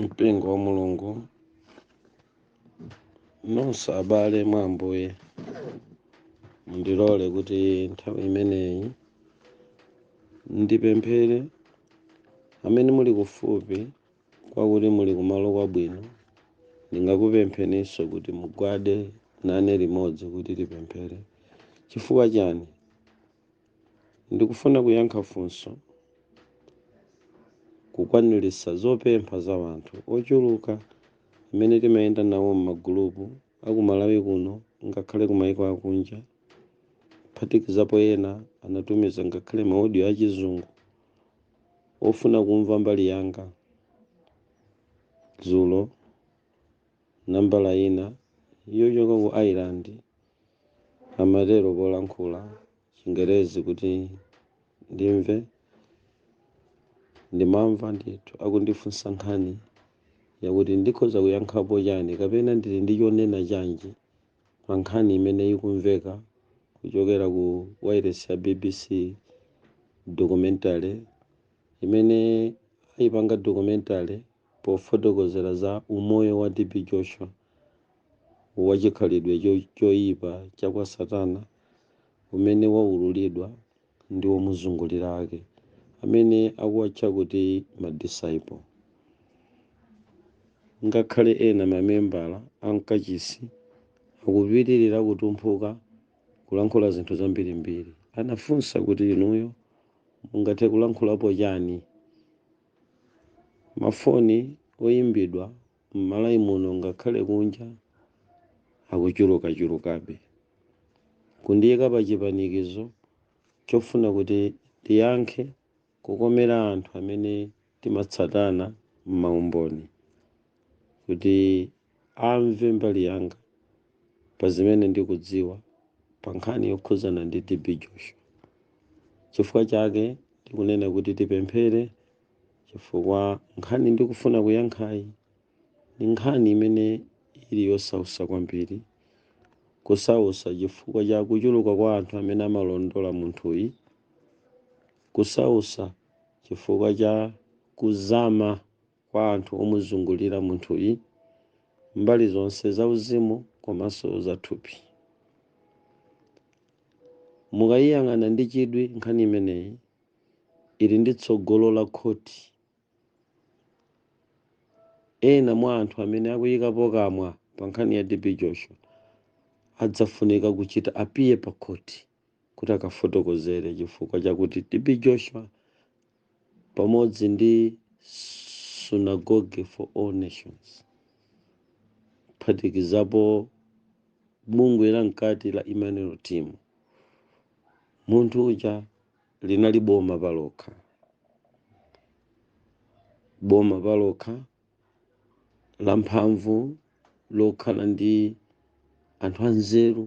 mpingo wa mulungu nonse abale mwa ambuye mundilole kuti nthawi imeneyi ndipemphere amene muli kufupi kwakuti muli kumalo kwabwino ndingakupempheninso kuti mugwade nane limodzi kuti tipemphere chifukwa chani Ndikufuna kuyankha funso, kukwanilitsa zopempha za wanthu ochuluka amene timayenda nawo m'magulupu aku Malawi kuno ngakhale ku maiko akunja, kuphatikizapo ena anatumiza ngakhale ma audio a chizungu ofuna kumva mbali yanga dzulo. Nambala ina yochoka ku Ireland amatero polankhula Chingelezi kuti ndimve. Ndimamva ndithu akundifunsa nkhani yakuti ndikhoza kuyankhapo chani kapena ndili ndi chonena chanji pa nkhani imene ikumveka kuchokera ku wailesi ya bbc. Documentary imene aipanga documentary Pofotokozera za umoyo wa TB Joshua wa chikhalidwe choipa cha kwa Satana umene waululidwa ndi omuzungulira ake amene akuwatcha kuti ma disciple. Ngakhale ena mamembala a mkachisi akupitilira kutumphuka kulankhula zinthu zambirimbiri, anafunsa kuti inuyo mungathe kulankhulapo chani? Mafoni oimbidwa m'Malawi muno ngakhale kunja akuchulukachulukabe, kundiika pachipanikizo chofuna kuti tiyankhe kukomera anthu amene timatsatana m'maumboni kuti amve mbali yanga pa zimene ndikudziwa pa nkhani yokhudzana ndi TB Joshua. Chifukwa chake ndikunena kuti tipemphere chifukwa nkhani ndikufuna kuyankhayi ni nkhani imene ili yosausa kwambiri, kusausa chifukwa cha kuchuluka kwa anthu amene amalondola munthuyi, kusausa chifukwa cha kuzama kwa anthu omuzungulira munthuyi mbali zonse zauzimu komanso zathupi. Mukayiyang'ana ndi chidwi nkhani imeneyi ili ndi tsogolo la khoti. Ena mwa anthu amene akuyikapo kamwa pa nkhani ya TB Joshua adzafunika kuchita appear pa khoti. kuti akafotokozere chifukwa chakuti TB Joshua pamodzi ndi Synagogue for All Nations kuphatikizapo bungwe la mkati la Emmanuel Team munthu uja linali boma palokha boma palokha lamphamvu lokhala ndi anthu anzeru,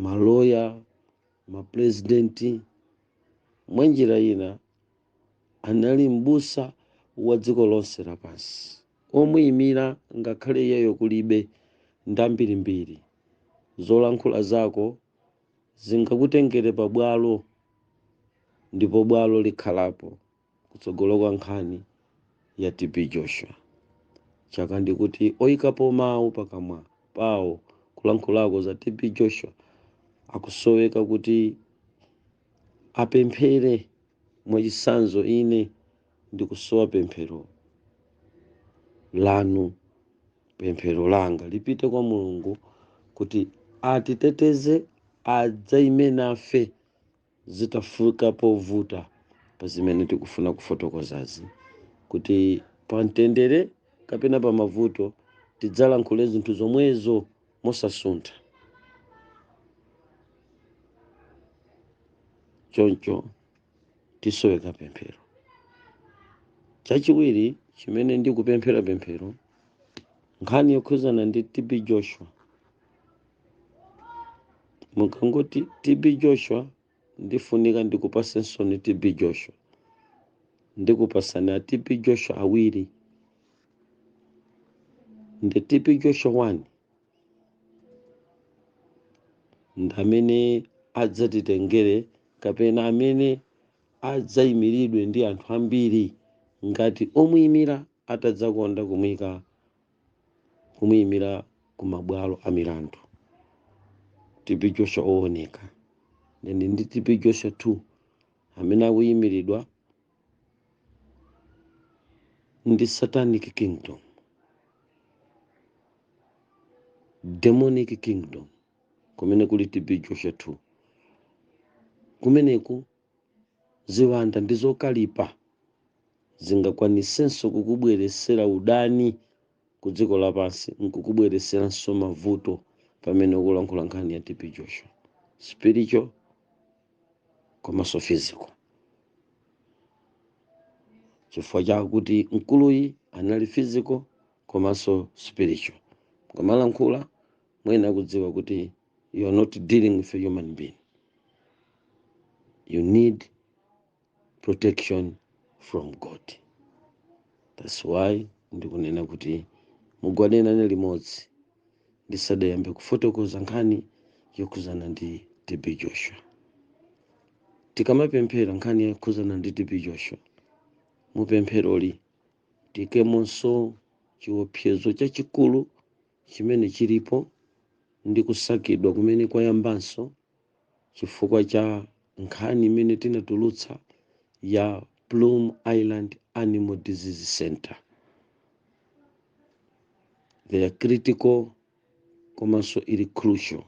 maloya, mapulezidenti. Mwa njira ina, anali m'busa wa dziko lonse lapansi. Omuimira, ngakhale iyeyo kulibe, ndi ambirimbiri. Zolankhula zako zingakutengere pabwalo, ndipo bwalo likhalapo. kutsogolo kwa nkhani ya TB Joshua choncho ndi kuti oyikapo mawu pakamwa pawo kulankhulako za TB Joshua akusoweka kuti apemphere mwachitsanzo ine ndikusowa pemphero lanu pemphero langa lipite kwa mulungu kuti atiteteze adzaime nafe zitafika povuta pa zimene tikufuna kufotokozazi kuti pamtendere kapena pamavuto tidzalankhule zinthu zomwezo mosasuntha choncho tisoweka pemphero chachiwiri chimene ndikupemphera pemphero nkhani yokhudzana ndi tb joshua mukangoti tb joshua ndifunika ndikufunseni tb joshua ndikupasani a tb joshua awiri ndi tb joshua 1 ndamene adzatitengere kapena amene adzayimiridwe ndi anthu ambiri ngati omuyimira atadzakonda kumuyika kumuyimira ku mabwalo a milandu tb joshua owoneka then ndi tb joshua 2 amene akuyimiridwa ndi satanic kingdom demonic kingdom kumene kuli tb joshua 2 kumeneko Ziwanda ndi zokalipa zingakwanisenso kukubweletsela udani ku dziko lapansi nkukubweletseranso mavuto pamene ukulankhula nkhani ya TB Joshua. Spiritual komanso physical. Chifukwa chakuti mkuluyi anali physical komanso spiritual. Mukamalankhula muyenela kudziwa kuti you are not dealing with a human being you need protection from god that's why ndikunena kuti mugwade nane limodzi ndisadayambe kufotokoza nkhani yokhuzana ndi tb joshua tikamapemphera nkhani yokhuzana ndi tb joshua mupempheroli tiikemonso chiopsezo chachikulu chimene chilipo ndi kusakidwa kumene kwayambanso chifukwa cha nkhani imene tinatulutsa ya Plum Island Animal Disease Center. They are critical komanso ili crucial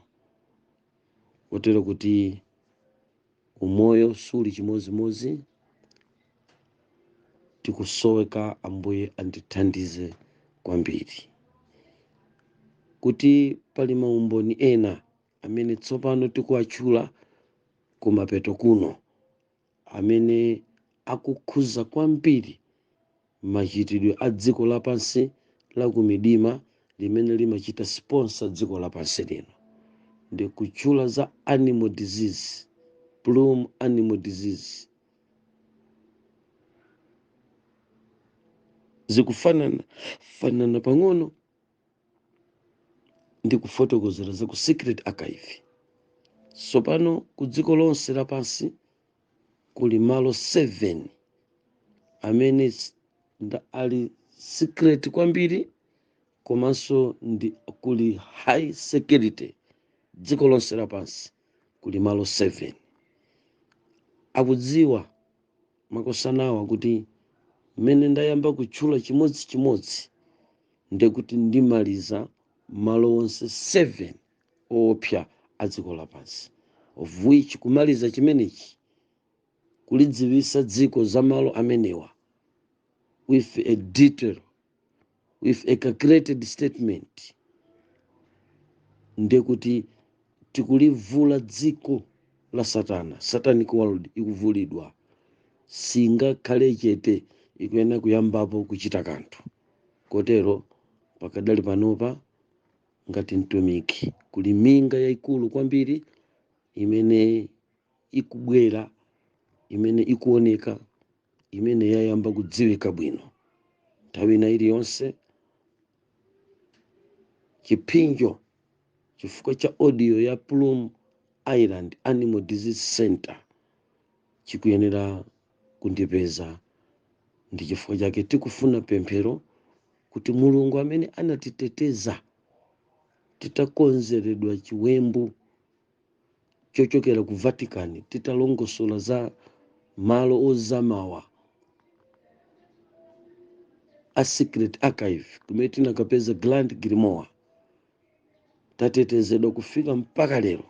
kotero kuti Umoyo suli chimozimozi tikusoweka ambuye andithandize kwambiri kuti pali maumboni ena amene tsopano tikuwatchula kumapeto kuno amene akukhuza kwambiri machitidwe a dziko lapansi la kumidima limene limachita sponsor dziko lapansi lino ndi kutchula za animal disease plum animal disease zikufanana fanana pang'ono ndi kufotokozera za ku secret archive sopano ku dziko lonse lapansi kuli malo 7 amene s- nda- ali secret kwambiri komanso kuli high security dziko lonse lapansi kuli malo 7 akudziwa makosanawa kuti mmene ndayamba kutchula chimodzi chimodzi ndekuti ndimaliza malo onse 7 oopsa a dziko lapansi of which kumaliza chimenechi kulidziwisa dziko za malo amenewa with a detail with a calculated statement ndekuti tikulivula dziko la satana satanic world ikuvulidwa singakhale chete ikuyenera kuyambapo kuchita kanthu kotero pakadali panopa ngati mtumiki. Kuli minga yaikulu kwambiri imene ikubwera, imene ikuoneka, imene yayamba kudziwika bwino. Nthawi ina iliyonse chiphinjo chifukwa cha audio ya Plum Island Animal Disease Center chikuyenera kundipeza. Ndi chifukwa chake tikufuna pemphero kuti Mulungu amene anatiteteza titakonzeredwa chiwembu chochokera ku Vatican titalongosola za malo ozamawa a Secret Archive kumene tinakapeza Grand Grimoire tatetezedwa kufika mpaka lero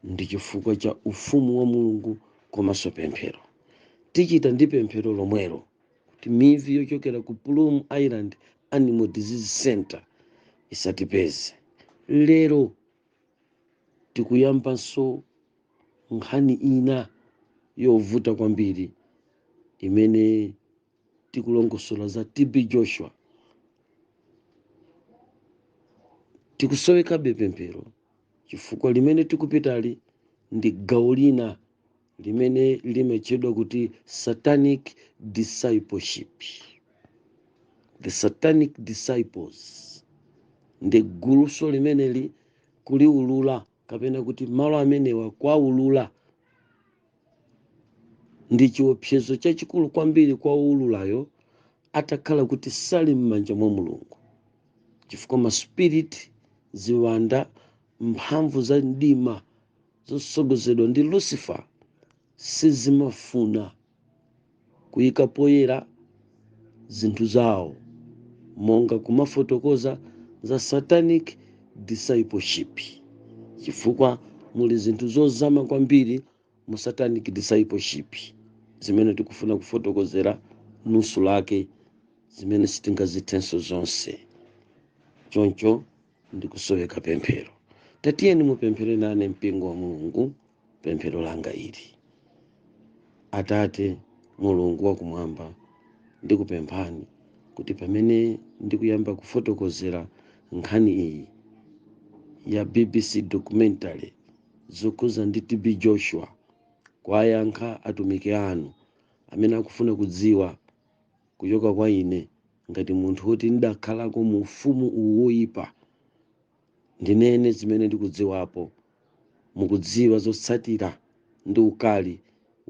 ndi chifukwa cha ufumu wa mulungu komanso pemphero tichita ndi pemphero lomwelo kuti mivi yochokera ku plum island animal disease center isatipeze lero tikuyambanso nkhani ina yovuta kwambiri imene tikulongosola za tb joshua tikusowekabe pemphero chifukwa limene tikupitali ndi gawo lina limene limatchedwa kuti satanic discipleship the satanic disciples ndi guluso limeneli kuliulula kapena kuti malo amenewa kuwaulula ndi chiopsezo chachikulu kwambiri kwa woululayo atakhala kuti sali m'manja mwa mulungu chifukwa ma spirit ziwanda mphamvu za mdima zotsogozedwa ndi lucifer sizimafuna kuika poyera zinthu zawo monga kumafotokoza za satanic discipleship chifukwa muli zinthu zozama kwambiri mu satanic discipleship zimene tikufuna kufotokozera nusu lake zimene sitingazithenso zonse choncho ndikusoweka pemphero tatiyeni mupemphere nane mpingo wa mulungu pemphero langa ili atate mulungu wakumwamba ndikupemphani kuti pamene ndikuyamba kufotokozera nkhani iyi ya bbc documentary zokhuza ndi tb joshua kuwayankha atumiki anu amene akufuna kudziwa kuchoka kwa ine ngati munthu woti ndidakhalako mu ufumu uwu woyipa, ndinene zimene ndikudziwapo. Mukudziwa zotsatira ndi ukali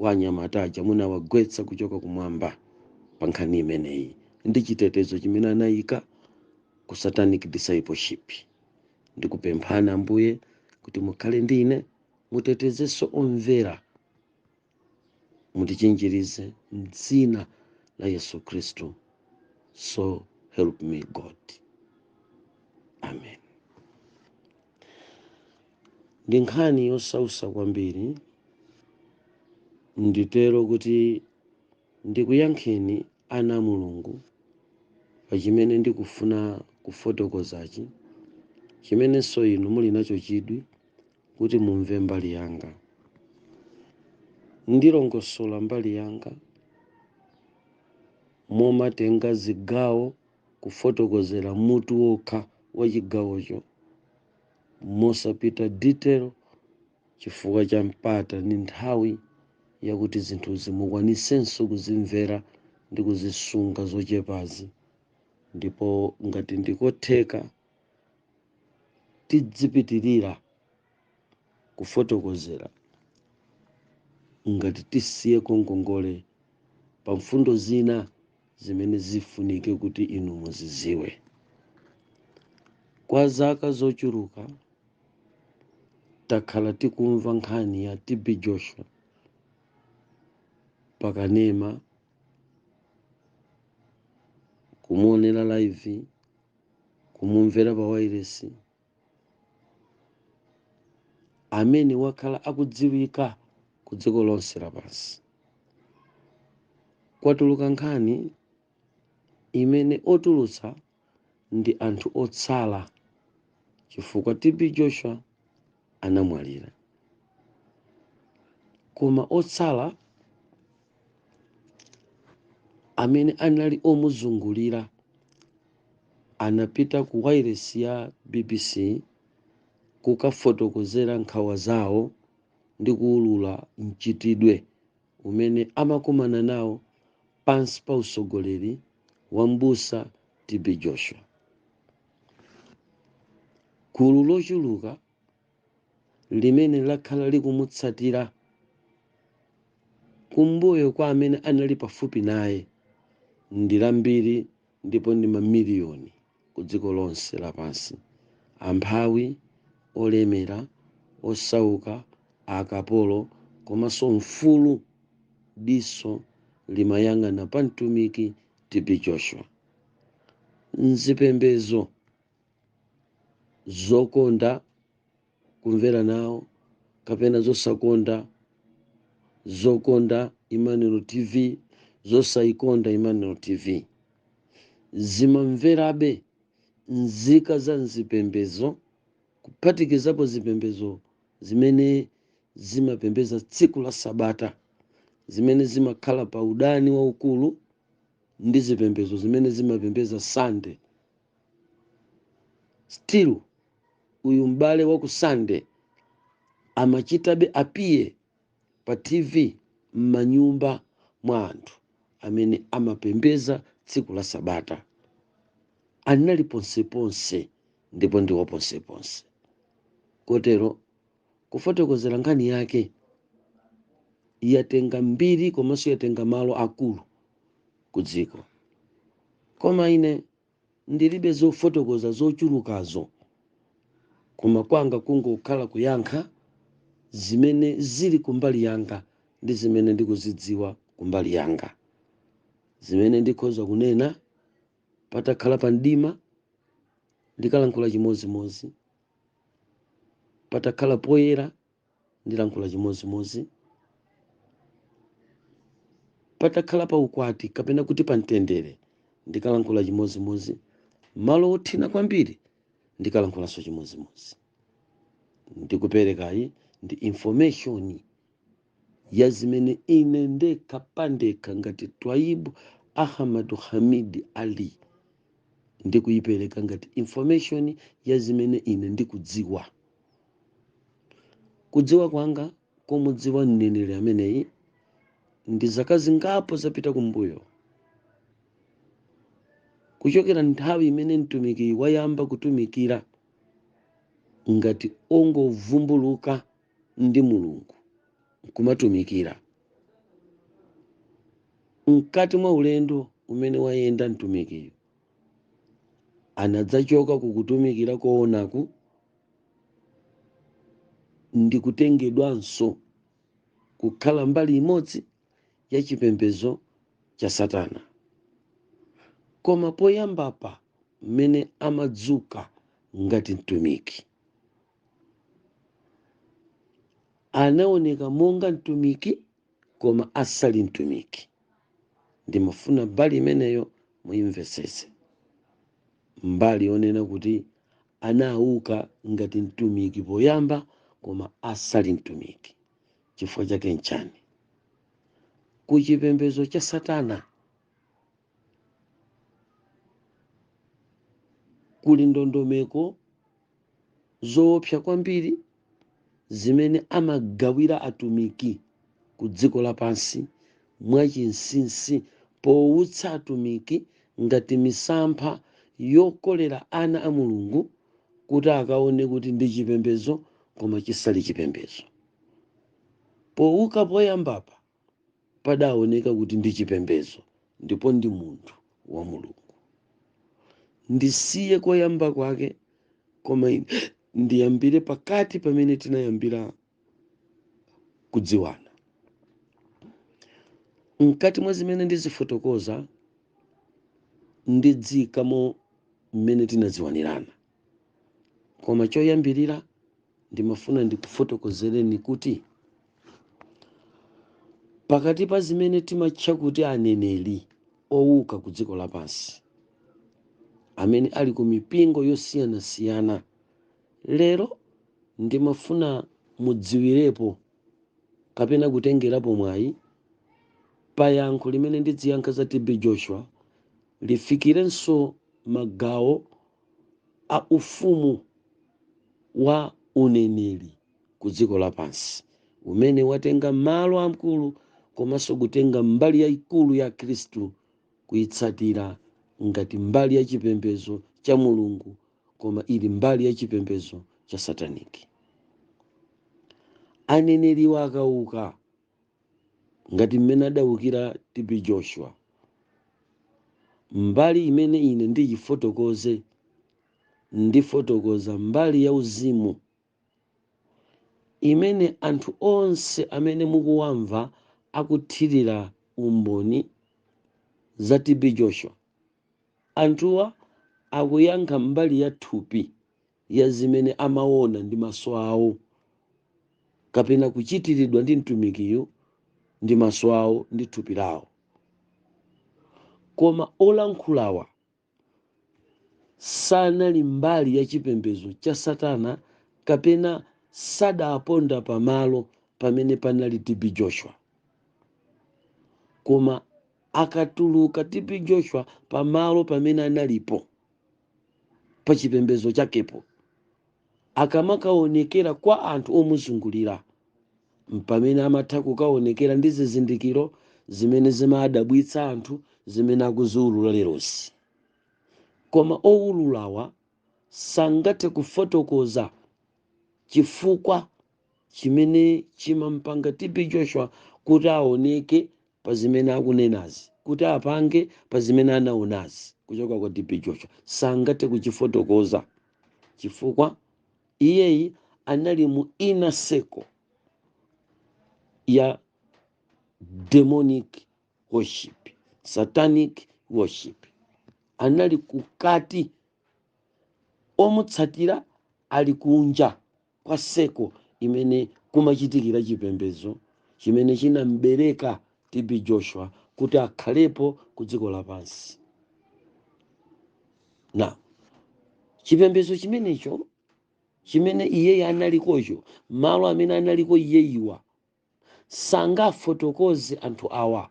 wa anyamata aja munawagwetsa kuchoka kumwamba pa nkhani imeneyi ndi chitetezo chimene anayika ku satanic discipleship. Ndikupemphani Ambuye kuti mukhale ndi ine, mutetezenso omvera. mutichinjirize mdzina la yesu khristu so help me god amen ndi nkhani yosausa kwambiri nditero kuti ndikuyankheni ana a mulungu pa chimene ndikufuna kufotokozachi chimenenso inu muli nacho chidwi kuti mumve mbali yanga. Ndilongosola mbali yanga momatenga zigawo kufotokozera mutu wokha wa chigawocho mosapita detail chifukwa cha mpata ndi nthawi yakuti zinthuzi mukwanisenso kuzimvera ndi kuzisunga zochepazi ndipo ngati ndikotheka tidzipitirira kufotokozera ngati tisiyeko ngongole pa mfundo zina zimene zifunike kuti inu muziziwe. Kwa zaka zochuluka takhala tikumva nkhani ya TB Joshua pakanema, kumuonera live kumumvera pa wailesi amene wakhala akudziwika ku dziko lonse lapansi kwatuluka nkhani imene otulutsa ndi anthu otsala chifukwa tb joshua anamwalira, koma otsala amene anali omuzungulira anapita ku wailesi ya BBC kukafotokozera nkhawa zawo ndi kuulula mchitidwe umene amakumana nawo pansi pa utsogoleri wa Mbusa TB Joshua. Gulu lochuluka limene lakhala likumutsatira kumbuyo kwa amene anali pafupi naye ndi lambiri ndipo ndi mamiliyoni kudziko lonse lapansi, amphawi, olemera, osauka, akapolo komanso mfulu. Diso limayang'ana pa mtumiki TB Joshua. mzipembezo zokonda kumvera nawo kapena zosakonda zokonda Emmanuel TV zosayikonda Emmanuel TV zimamverabe nzika za mzipembezo kuphatikizapo zipembezo zimene zimapembeza tsiku la sabata zimene zimakhala pa udani waukulu ndi zipembedzo zimene zimapembedza Sande. Still uyu m'bale wa ku Sande amachitabe appear pa TV m'manyumba mwa anthu amene amapembedza tsiku la Sabata. Anali ponseponse ndipo ndiwo ponseponse. Kotero Kufotokozera nkhani yake, yatenga mbiri komanso yatenga malo akulu ku dziko. Koma ine ndilibe zofotokoza zochulukazo koma kwanga kungokhala kuyankha zimene zili kumbali yanga ndi zimene ndikuzidziwa kumbali yanga. Zimene ndikhoza kunena, patakhala pa mdima ndikalankhula chimodzimodzi. patakhala poyera ndilankhula chimodzimodzi patakhala pa ukwati kapena kuti pa mtendere ndikalankhula chimodzimodzi malo othina kwambiri ndikalankhulanso chimodzimodzi ndikuperekayi ndi information ya zimene ine ndekha pandekha ngati Twaibu Ahmadu Hamid Ali ndikuyipereka ngati information ya zimene ine ndikudziwa. Kudziwa kwanga kumudziwa mneneri ameneyi ndi zaka zingapo zapita kumbuyo kuchokera nthawi imene mtumikiyi wayamba kutumikira ngati ongovumbuluka ndi Mulungu kumatumikira. Mkati mwa ulendo umene wayenda mtumikiyo, anadzachoka ku kutumikira koonaku ndi kutengedwanso kukhala mbali imodzi ya chipembedzo cha Satana. Koma poyambapa mmene amadzuka ngati mtumiki. anaoneka monga mtumiki koma asali mtumiki ndimafuna mbali imeneyo muyimvetsese mbali yonena kuti anauka ngati mtumiki poyamba koma asali mtumiki chifukwa chake nchani ku chipembedzo cha satana kuli ndondomeko zoopsa kwambiri zimene amagawira atumiki ku dziko lapansi mwachinsinsi powutsa atumiki ngati misampha yokolera ana a Mulungu kuti akaone kuti ndi chipembedzo koma chisali chipembedzo. Powuka poyambapa, padaoneka kuti ndi chipembedzo ndipo ndi munthu wa Mulungu. Ndisiye koyamba kwake koma ndiyambire pakati pamene tinayambira kudziwana. Mkati mwa zimene ndizifotokoza ndidziikamo mmene tinadziwanirana. koma choyambirira ndimafuna ndikufotokozereni kuti pakati pa zimene timatcha kuti aneneri owuka ku dziko lapansi amene ali ku mipingo yosiyanasiyana lero ndimafuna mudziwirepo kapena kutengerapo mwayi pa yankho limene ndidziyankha za tb joshua lifikirenso magawo a ufumu wa uneneri ku dziko lapansi umene watenga malo amkulu komanso kutenga mbali yaikulu ya Akhristu kuitsatira ngati mbali ya chipembezo cha Mulungu koma ili mbali ya chipembezo cha sataniki. Aneneriwa akauka ngati mmene adaukira TB Joshua. Mbali imene ine ndiyifotokoze, ndifotokoza mbali ya uzimu imene anthu onse amene mukuwamva akuthirira umboni za TB Joshua, anthuwa akuyankha mbali ya thupi ya zimene amaona ndi maso awo kapena kuchitiridwa ndi mtumikiyo ndi maso awo ndi thupi lawo koma olankhulawa sanali mbali ya chipembedzo cha satana kapena sadaponda pamalo pamene panali tb joshua koma akatuluka tb joshua pamalo pamene analipo pa chipembedzo chakepo akamakaonekera kwa anthu omuzungulira mpamene amatha kukaonekera ndi zizindikiro zimene zimadabwitsa anthu zimene akuziwulula lerozi koma owululawa sangathe kufotokoza chifukwa chimene chimampanga TB Joshua kuti aoneke pa zimene akunenazi, kuti apange pa zimene anaonazi kuchoka kwa TB Joshua sangathe kuchifotokoza chifukwa iyeyi anali mu inner circle ya demonic worship, satanic worship, anali kukati, omutsatira ali kunja. kwa circle imene kumachitikira chipembedzo chimene chinam'bereka TB Joshua kuti akhalepo ku dziko lapansi. Now, chipembedzo chimenecho chimene iyeyi analikocho, malo amene analiko iyeyiwa sangafotokoze anthu awa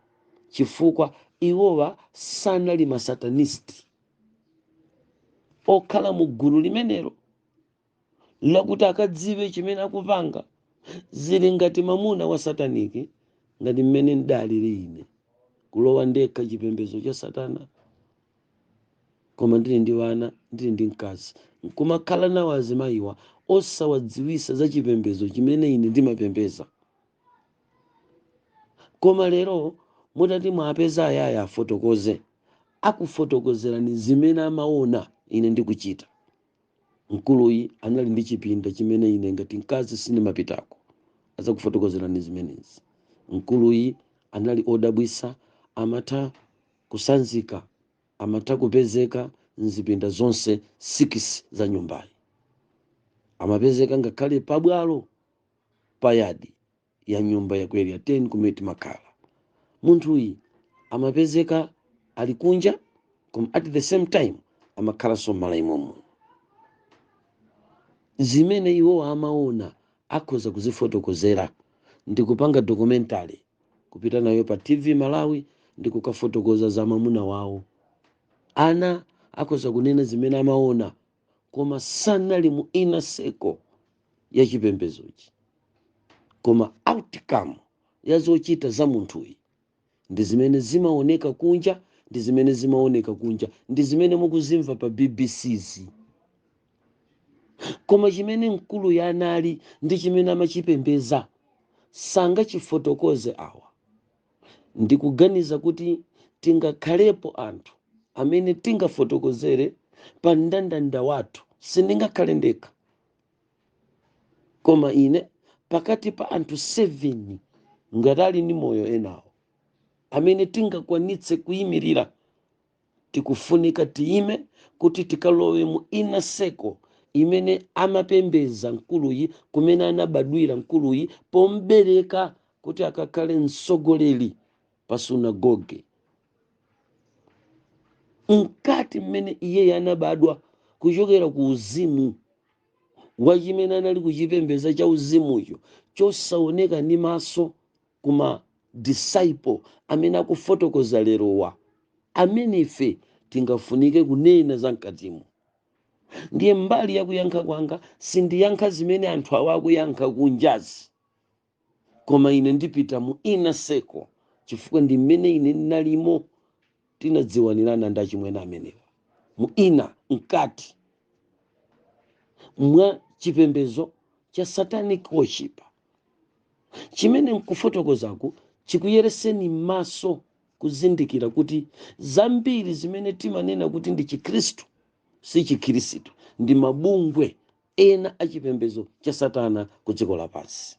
chifukwa iwowa sanali masatanisti okhala mu gulu limenelo lakuti akadziwe chimene akupanga zili ngati mamuna wa sataniki ngati mmene ndaliri ine kulowa ndekha chipembedzo cha satana koma ndili ndi wana ndili ndi mkazi nkumakhala nawo azimayiwa osawadziwisa za chipembedzo chimene ine ndimapembeza koma lero mutati mwapeza ayaya afotokoze akufotokozerani zimene amaona ine ndikuchita Mkuluyi anali ndi chipinda chimene ine ngati mkazi sindimapitako. Azakufotokozerani zimenezi. Mkuluyi anali odabwisa, amatha kusanzika, amatha kupezeka mzipinda zonse sikisi za nyumbayi. Amapezeka ngakhale pa bwalo, pa yadi, ya nyumba ya ku area 10 kumene timakhala munthuyi amapezeka ali kunja koma at the same time amakhalanso m'mala imomo zimene iwo amaona akhoza kuzifotokozera ndi kupanga documentary kupita nayo pa tv malawi ndi kukafotokoza za mamuna wawo ana akhoza kunena zimene amaona koma sanali mu inner circle ya chipembedzochi koma outcome ya zochita za munthuyi ndi zimene zimaoneka kunja ndi zimene zimaoneka kunja ndi zimene mukuzimva pa BBC-zi koma chimene mkuluyi anali ndi chimene amachipembeza sangachifotokoze awa Ndikuganiza kuti tingakhalepo anthu amene tingafotokozere pa mndandanda wathu. Sindingakhale ndekha. Koma ine pakati pa anthu 7 ngati ali ndi moyo enawo amene tingakwanitse kuyimirira Tikufunika tiyime kuti tikalowe mu inner circle imene amapembedza mkuluyi, kumene anabadwira mkuluyi pom'bereka kuti akakhale mtsogoleri pa sunagoge. Mkati mmene iyeyo anabadwa kuchokera ku uzimu wa chimene anali kuchipembedza chauzimucho chosaoneka ndi maso, kuma disciple amene akufotokoza lerowa amene ife tingafunike kunena za mkatimo ndiye mbali yakuyankha kwanga sindiyankha zimene anthu awa akuyankha kunjazi koma ine ndipita mu inner circle chifukwa ndi mmene ine ndinalimo tinadziwanirana ndi achimwene amenewa mu inner mkati mwa chipembedzo cha satanic worship chimene nkufotokozaku chikuyereseni maso kuzindikira kuti zambiri zimene timanena kuti ndi chikhristu si chikhristu ndi mabungwe ena a chipembedzo cha satana ku dziko lapansi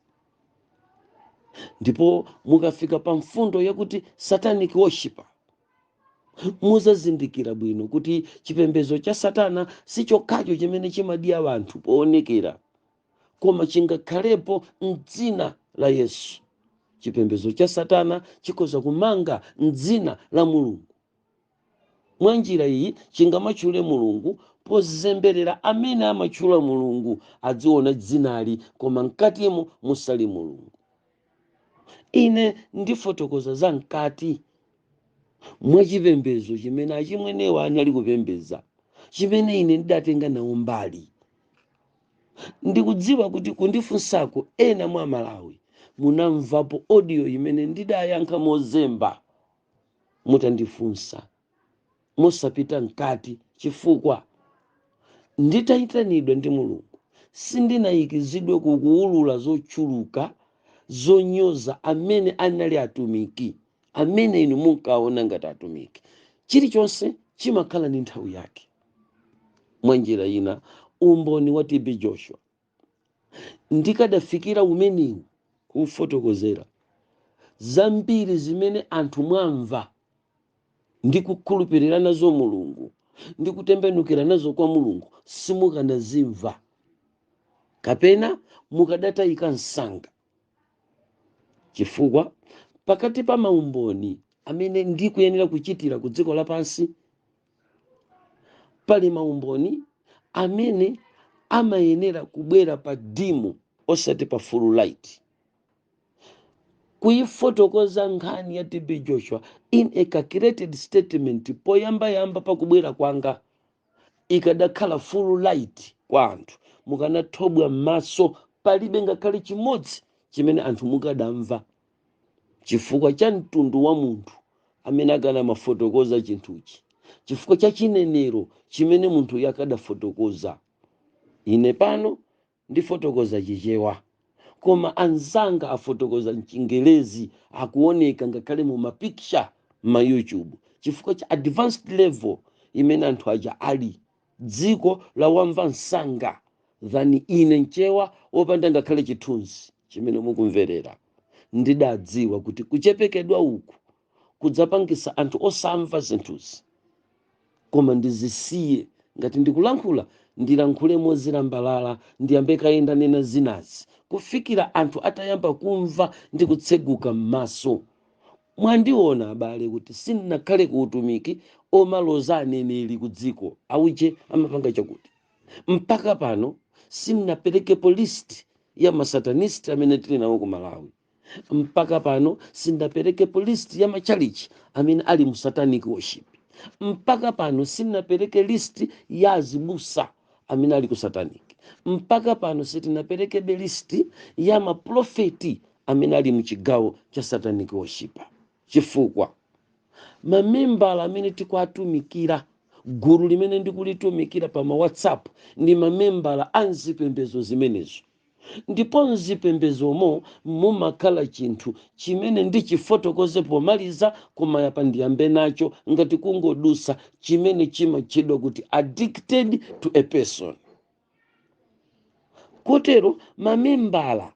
ndipo mukafika pa mfundo yakuti satanic worship muzazindikira bwino kuti chipembedzo cha satana si chokhacho chimene chimadya anthu poonekera koma chingakhalepo m'dzina la Yesu. Chipembedzo cha Satana chikhoza kumanga m'dzina la Mulungu. Mwa njira iyi chingamatchule Mulungu pozemberera amene amatchula Mulungu adziona dzinali koma mkatimo musali Mulungu. Ine ndifotokoza za mkati mwa chipembedzo chimene achimwenewa anali kupembedza chimene ine ndidatenga nawo mbali. Ndikudziwa kuti kundifunsako ena mwa Malawi munamvapo audio imene ndidayankha mozemba mutandifunsa mosapita mkati chifukwa nditaitanidwa ndi Mulungu sindinayikizidwe ku kuulula zochuluka zonyoza amene anali atumiki amene inu munkaona ngati atumiki. Chilichonse chimakhala ndi nthawi yake. mwa njira ina umboni wa tb joshua ndikadafikira umenewu kufotokozera zambiri zimene anthu mwamva ndi kukhulupirira nazo mulungu ndi kutembenukira nazo kwa mulungu simukanazimva kapena mukadatayika msanga chifukwa pakati pa maumboni amene ndikuyenera kuchitira ku dziko lapansi pali maumboni amene amayenera kubwera pa dimu osati pa full light kuyifotokoza nkhani ya tb joshua in a calculated statement poyambayamba pakubwera kwanga ikadakhala full light kwa anthu mukanathobwa m'maso palibe ngakhale chimodzi chimene anthu mukadamva chifukwa cha mtundu wa munthu amene akanamafotokoza chinthuchi chifukwa cha chinenero chimene munthuyo akadafotokoza ine pano ndifotokoza chichewa koma anzanga afotokoza mchingelezi akuoneka ngakhale mu mapikicha ma youtube chifukwa cha advanced level imene anthu aja ali dziko lawamva msanga than ine mchewa wopanda ngakhale chithunzi chimene mukumverera ndidadziwa kuti kuchepekedwa uku kudzapangisa anthu osamva zinthuzi koma ndizisiye ngati ndikulankhula ndilankhule mozilambalala ndiyambe kaye ndanena zinazi kufikira anthu atayamba kumva ndi kutseguka m'maso Mwandiona abale kuti sindinakhale ku utumiki omaloza aneneri ku dziko, auje amapanga chakuti. Mpaka pano sindinaperekepo list ya ma satanist amene tili nawo ku Malawi. Mpaka pano sindinaperekepo list ya matchalitchi amene ali mu satanic worship. Mpaka pano sindinapereke list ya azibusa amene ali ku satanic mpaka pano sitinaperekebe list ya maprofeti amene ali mchigawo cha satanic worship chifukwa mamembala amene tikuatumikira gulu limene ndikulitumikira pa ma whatsapp ndi mamembala a mzipembezo zimenezo Ndipo mzipembezomo mumakhala chinthu chimene ndichifotokoze pomaliza koma apa ndiyambe nacho ngati kungodutsa chimene chimatchedwa kuti addicted to a person. Kotero mamembala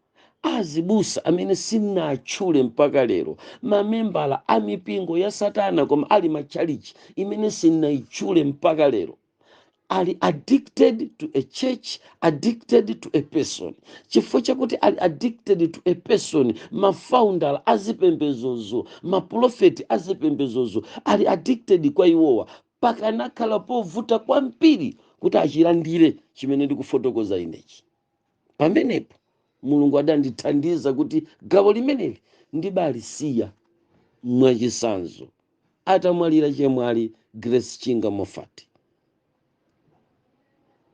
a azibusa amene sinatchule mpaka lero, mamembala a mipingo ya satana koma ali matchalitchi imene sinaitchule mpaka lero, ali addicted to a church addicted to a person chifukwa chakuti ali addicted to a person mafounder azipembezozo mapulofeti azipembezozo ali addicted kwa iwowa pakanakhala povuta kwambiri kuti achilandire chimene ndikufotokoza inechi pamenepo mulungu adandithandiza kuti gawo limeneli ndibalisiya mwachisanzo atamwalira chemwali grace chinga moffat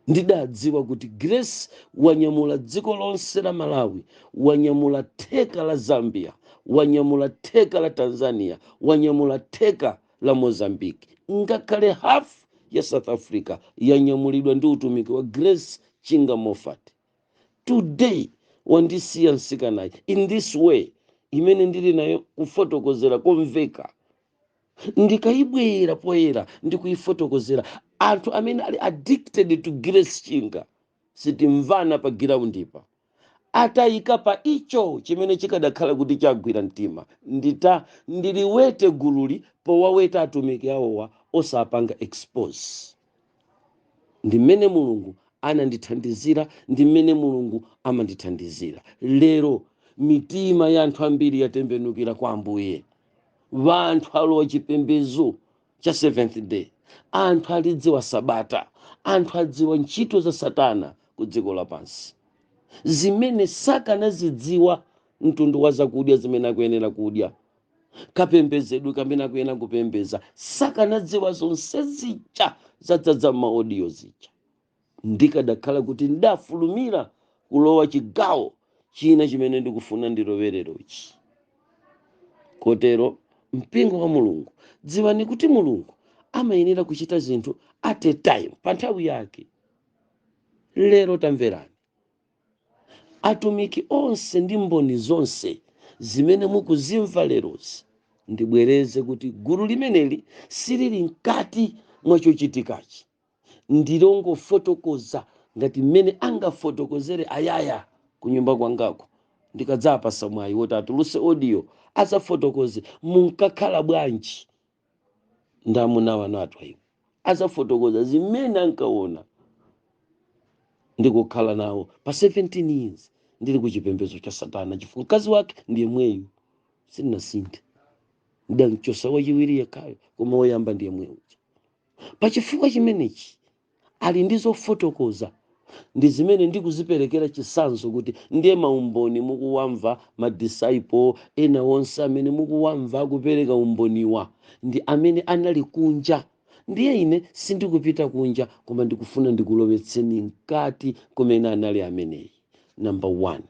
ndidadziwa kuti grace wanyamula dziko lonse la malawi wanyamula theka la zambia wanyamula theka la tanzania wanyamula theka la Mozambique, ngakhale half ya South Africa yanyamulidwa ndi utumiki wa Grace Chinga Moffat. Today wandisiya msikanayi in this way imene ndili nayo kufotokozera komveka ndikayibwera poyera ndikuyifotokozera anthu amene ali addicted to Grace Chinga sitimvana pa groundipa. Atayika pa icho chimene chikadakhala kuti chagwira mtima, ndita ndiliwete gululi powaweta atumiki awowa osapanga expose. Ndi mmene Mulungu anandithandizira ndi mmene Mulungu amandithandizira. Lero mitima ya anthu ambiri yatembenukira kwa Ambuye. Anthu alowa chipembezo cha seventh day anthu alidziwa sabata anthu adziwa ntchito za satana ku dziko lapansi zimene sakanazidziwa mtundu wa zakudya zimene akuyenera kudya kapembezedwe kamene akuyenera kupembeza sakanadziwa zonse zija zadzadza m'maodiyo zija Ndikadakhala kuti ndafulumira kulowa chigawo china chimene ndikufuna ndilowelerochi. Kotero, mpingo wa Mulungu, dziwani kuti Mulungu amayenera kuchita zinthu at a time, pa nthawi yake. Lero tamverani. Atumiki onse ndi mboni zonse zimene mukuzimva lerozi, ndibwereze kuti gulu limeneli silili mkati mwa chochitikachi. ndilongofotokoza ngati mmene angafotokozere ayaya kunyumba kwangaku ndikadzawapasa mwayi woti atuluse audio azafotokoze munkakhala bwanji ndi amuna wanu a Twaibu azafotokoza zimene ankaona ndikukhala nawo pa 17 years ndili ku chipembedzo cha satana chifukwa mkazi wake ndi yemweyu sindinasinthe ndamchosa wachiwiri yekhayo koma woyamba ndi yemweyu Pa chifukwa chimenechi, ali ndi zofotokoza ndi zimene ndikuziperekera chisanzo kuti ndiye maumboni mukuwamva ma disciple ena onse amene mukuwamva akupereka umboniwa ndi amene anali kunja ndiye ine sindikupita kunja koma ndikufuna ndikulowetseni mkati kumene anali ameneyi number one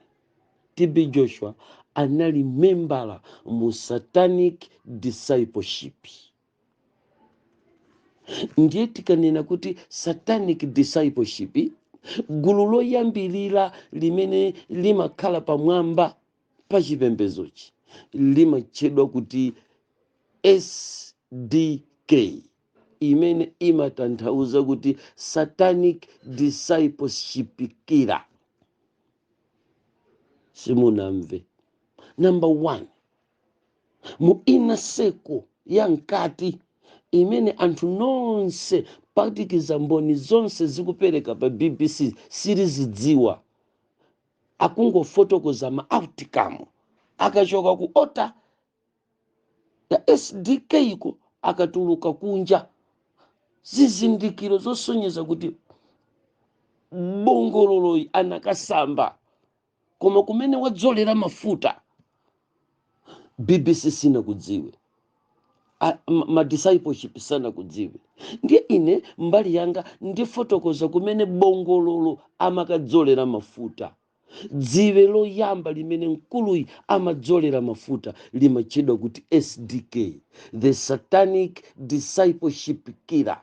TB Joshua anali membala mu satanic discipleship ndiye tikanena kuti satanic discipleship gulu loyambirira limene limakhala pamwamba pa chipembedzochi limatchedwa kuti sdk imene imatanthauza kuti satanic discipleship killer simunamve number one mu inner circle ya mkati imene anthu nonse kuphatikiza mboni zonse zikupereka pa bbc silizidziwa akungofotokoza ma outcome akachoka ku altar ya sdk-ko akatuluka kunja zizindikiro zosonyeza kuti bongololoyi anakasamba koma kumene wadzolera mafuta bbc sinakudziwe ma discipleship sanakudziwe ndiye ine mbali yanga ndifotokoza kumene bongololo amakadzolera mafuta dziwe loyamba limene mkuluyi amadzolera mafuta limatchedwa kuti sdk the satanic discipleship killer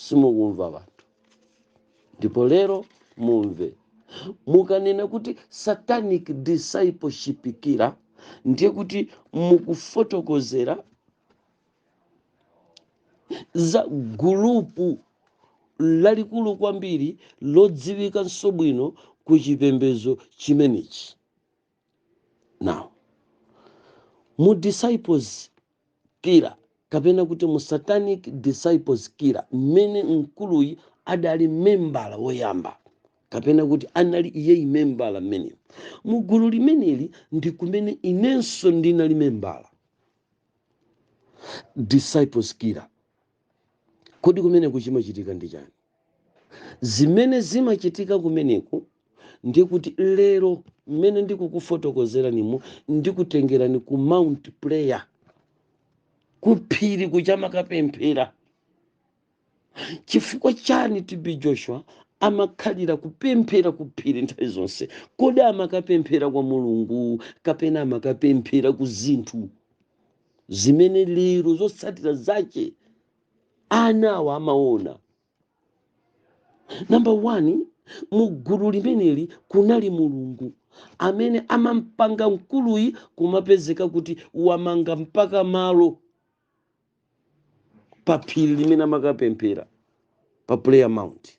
simukumva wanthu ndipo lero mumve mukanena kuti satanic discipleship killer ndiye kuti mukufotokozera za gulupu lalikulu kwambiri lodziwikanso bwino ku chipembedzo chimenechi now mu disciples killer kapena kuti mu satanic disciples killer mmene mkuluyi adali membala woyamba kapena kuti anali iyeyi membala mmene mu gulu limeneli ndi kumene inenso ndinali membala disciples killer Kodi kumeneku chimachitika ndi chani? Zimene zimachitika kumeneku ndi kuti lero mmene ndikukufotokozeranimo ndikutengerani ku Mount Prayer ku phiri kuja amakapemphera. Chifukwa chani TB Joshua amakhalira kupemphera ku phiri nthawi zonse? Kodi amakapemphera kwa Mulungu kapena amakapemphera ku zinthu? zimene lero zotsatira zache ana awa amaona namba 1 mu gulu limeneli kunali mulungu amene amampanga mkuluyi kumapezeka kuti wamanga mpaka malo pa phiri limene amakapemphera pa prayer mount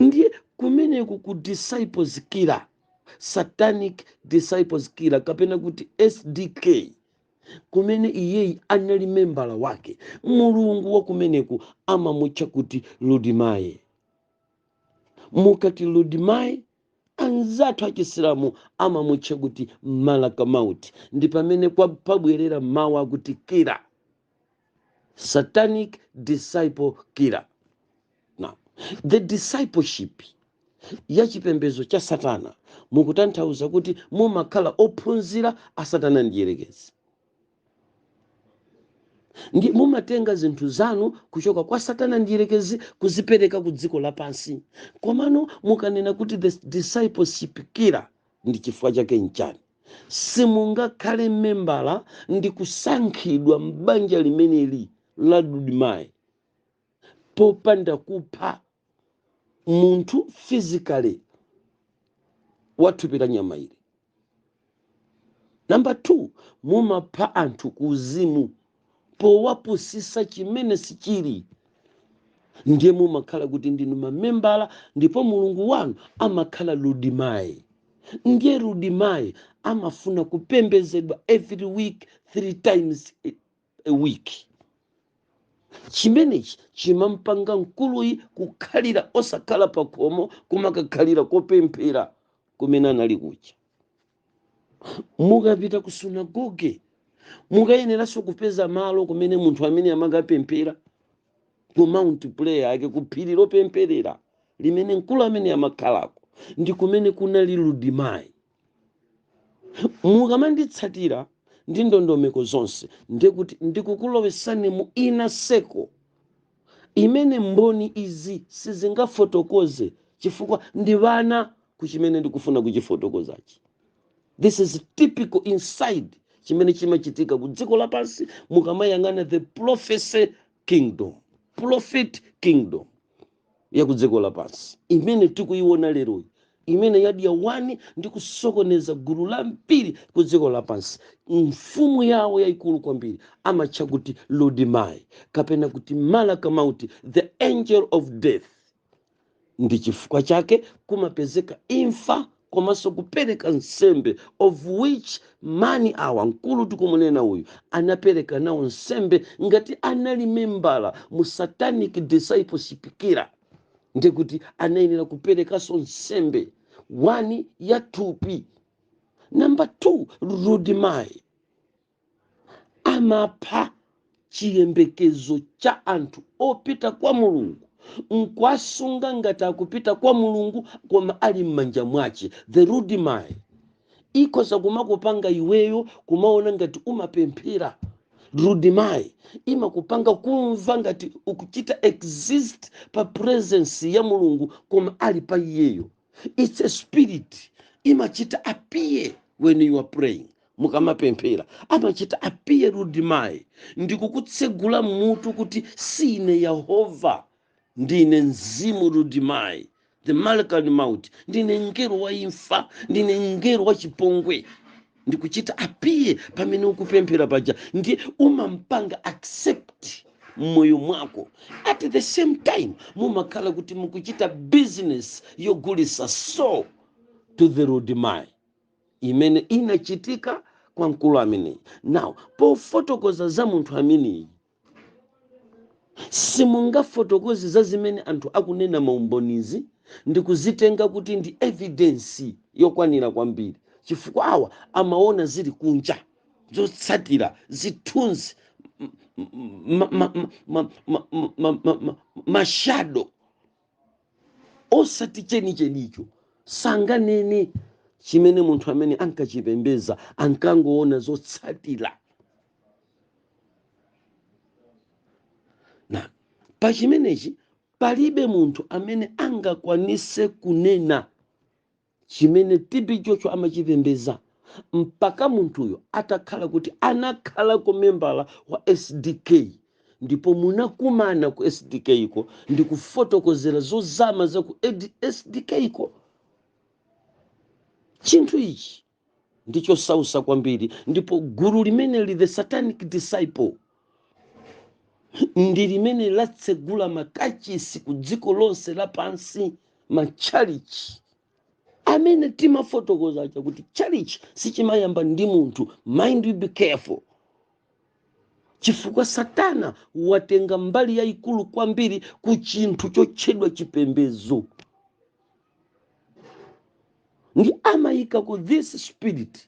ndiye kumeneku ku disciples killer satanic disciples killer kapena kuti sdk kumene iyeyi anali membala wake mulungu wa kumeneku amamutcha kuti ludimaye mukati ludimaye anzathu achisilamu amamutcha kuti malaka mauti ndi pamene kwa- pabwerera mawu akuti killer satanic disciple killer now the discipleship ya chipembezo cha satana mukutanthauza kuti mumakhala ophunzira a satana mdyerekezi ndi mumatenga zinthu zanu kuchoka kwa satana mdyerekezi kuzipereka ku dziko lapansi komano mukanena kuti the discipleship killer ndi chifukwa chake nchani Simungakhale membala ndi kusankhidwa m'banja limeneli la Ludimayi popanda kupha munthu physically wa thupi la nyama ili. Namba 2, mumapha anthu kuuzimu. powapusisa chimene sichili ndiye mumakhala kuti ndinu mamembala ndipo mulungu wanu amakhala ludimayi ndiye ludimayi amafuna kupembezedwa every week three times a week chimenechi chimampanga mkuluyi kukhalira osakhala pakhomo kumakakhalira kopemphera kumene anali kucha mukapita ku sunagoge mukayeneranso kupeza malo kumene munthu amene amakapemphera ku mount prayer yake ku phiri lopempherera limene mkulu amene amakhalako ndi kumene kunali ludimayi mukamanditsatira ndi ndondomeko zonse ndikuti ndikukulowesani mu inner circle imene mboni izi sizingafotokoze chifukwa ndi wana ku chimene ndikufuna kuchifotokozachi this is typical inside chimene chimachitika ku dziko lapansi mukamayang'ana the prophecy kingdom prophet kingdom ya ku dziko lapansi imene tikuyiona leroyi imene idea wani ndi kusokoneza gulu lambiri ku dziko lapansi mfumu yawo yayikulu kwambiri amatcha kuti ludimai kapena kuti malaka mauti the angel of death ndi chifukwa chake kumapezeka imfa komanso kupereka nsembe of which mani awa mkulu tikumunena uyu anapereka nawo nsembe ngati anali membala mu satanic discipleship killer ndiye kuti anayenera kuperekanso nsembe wani ya thupi namba 2 rudimai amapha chiyembekezo cha anthu opita kwa mulungu nkuwasunga ngati akupita kwa mulungu koma ali m'manja mwake The rudimai ikhoza kumakupanga iweyo kumaona ngati umapemphera rudimayi imakupanga kumva ngati ukuchita exist pa presence ya mulungu koma ali pa iyeyo it's a spirit imachita appear when you are praying mukamapemphera amachita appear rudimayi ndikukutsegula mutu kuti si ine Yehova Ndine mzimu Rudimai, the Malkan Maut, ndine mngelo wa imfa, ndine mngelo wa chipongwe. Ndikuchita appear pamene ukupemphera paja, ndiye umampanga accept mmoyo mwako at the same time mumakhala kuti mukuchita business yogulisa soul to the Rudimai imene inachitika kwa mkulu ameneyi. Now pofotokoza za munthu ameneyi simungafotokoze za zimene anthu akunena maumbonizi ndi kuzitenga kuti ndi evidence yokwanira kwambiri chifukwa awa amaona zili kunja zotsatira zithunzi m- m- ma- mashado osati chenichenicho sanganene chimene munthu ameneyi ankachipembeza ankangoona zotsatira now pa chimenechi palibe munthu amene angakwanise kunena chimene TB Joshua amachipembedza mpaka munthuyo atakhala kuti anakhalako membala wa SDK ndipo munakumana ku SDK ko ndi kufotokozera zozama za ku SDK ko. Chinthu ichi ndi chosausa kwambiri ndipo gulu limeneli the satanic disciple ndi limene latsegula makachisi ku dziko lonse lapansi matchalichi amene timafotokoza aja kuti chalichi sichimayamba ndi munthu mind you be careful chifukwa satana watenga mbali yayikulu kwambiri ku chinthu chotchedwa chipembedzo ndi amayika ku this spirit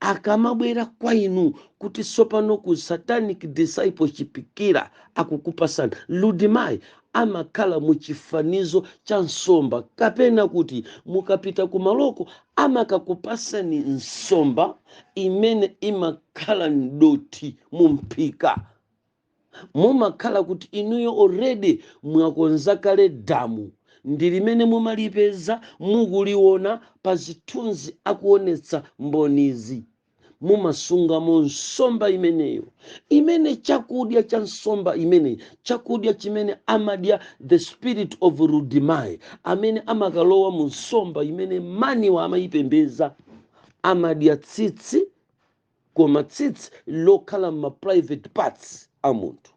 akamabwera kwa inu kuti tsopano ku satanic discipleship killer akukupasani rudimai amakhala mu chifanizo cha nsomba kapena kuti mukapita ku maloko amakakupasani nsomba imene imakhala mdothi mu mphika mumakhala kuti inuyo already mwakonza kale damu ndi limene mumalipeza mukuliona pazithunzi akuonetsa mbonizi mumasungamo nsomba imeneyo imene chakudya cha nsomba imeneyi chakudya chimene amadya the spirit of rudimai amene amakalowa mu nsomba imene maniwo amayipembedza amadya tsitsi koma tsitsi lokhala m'ma private parts a munthu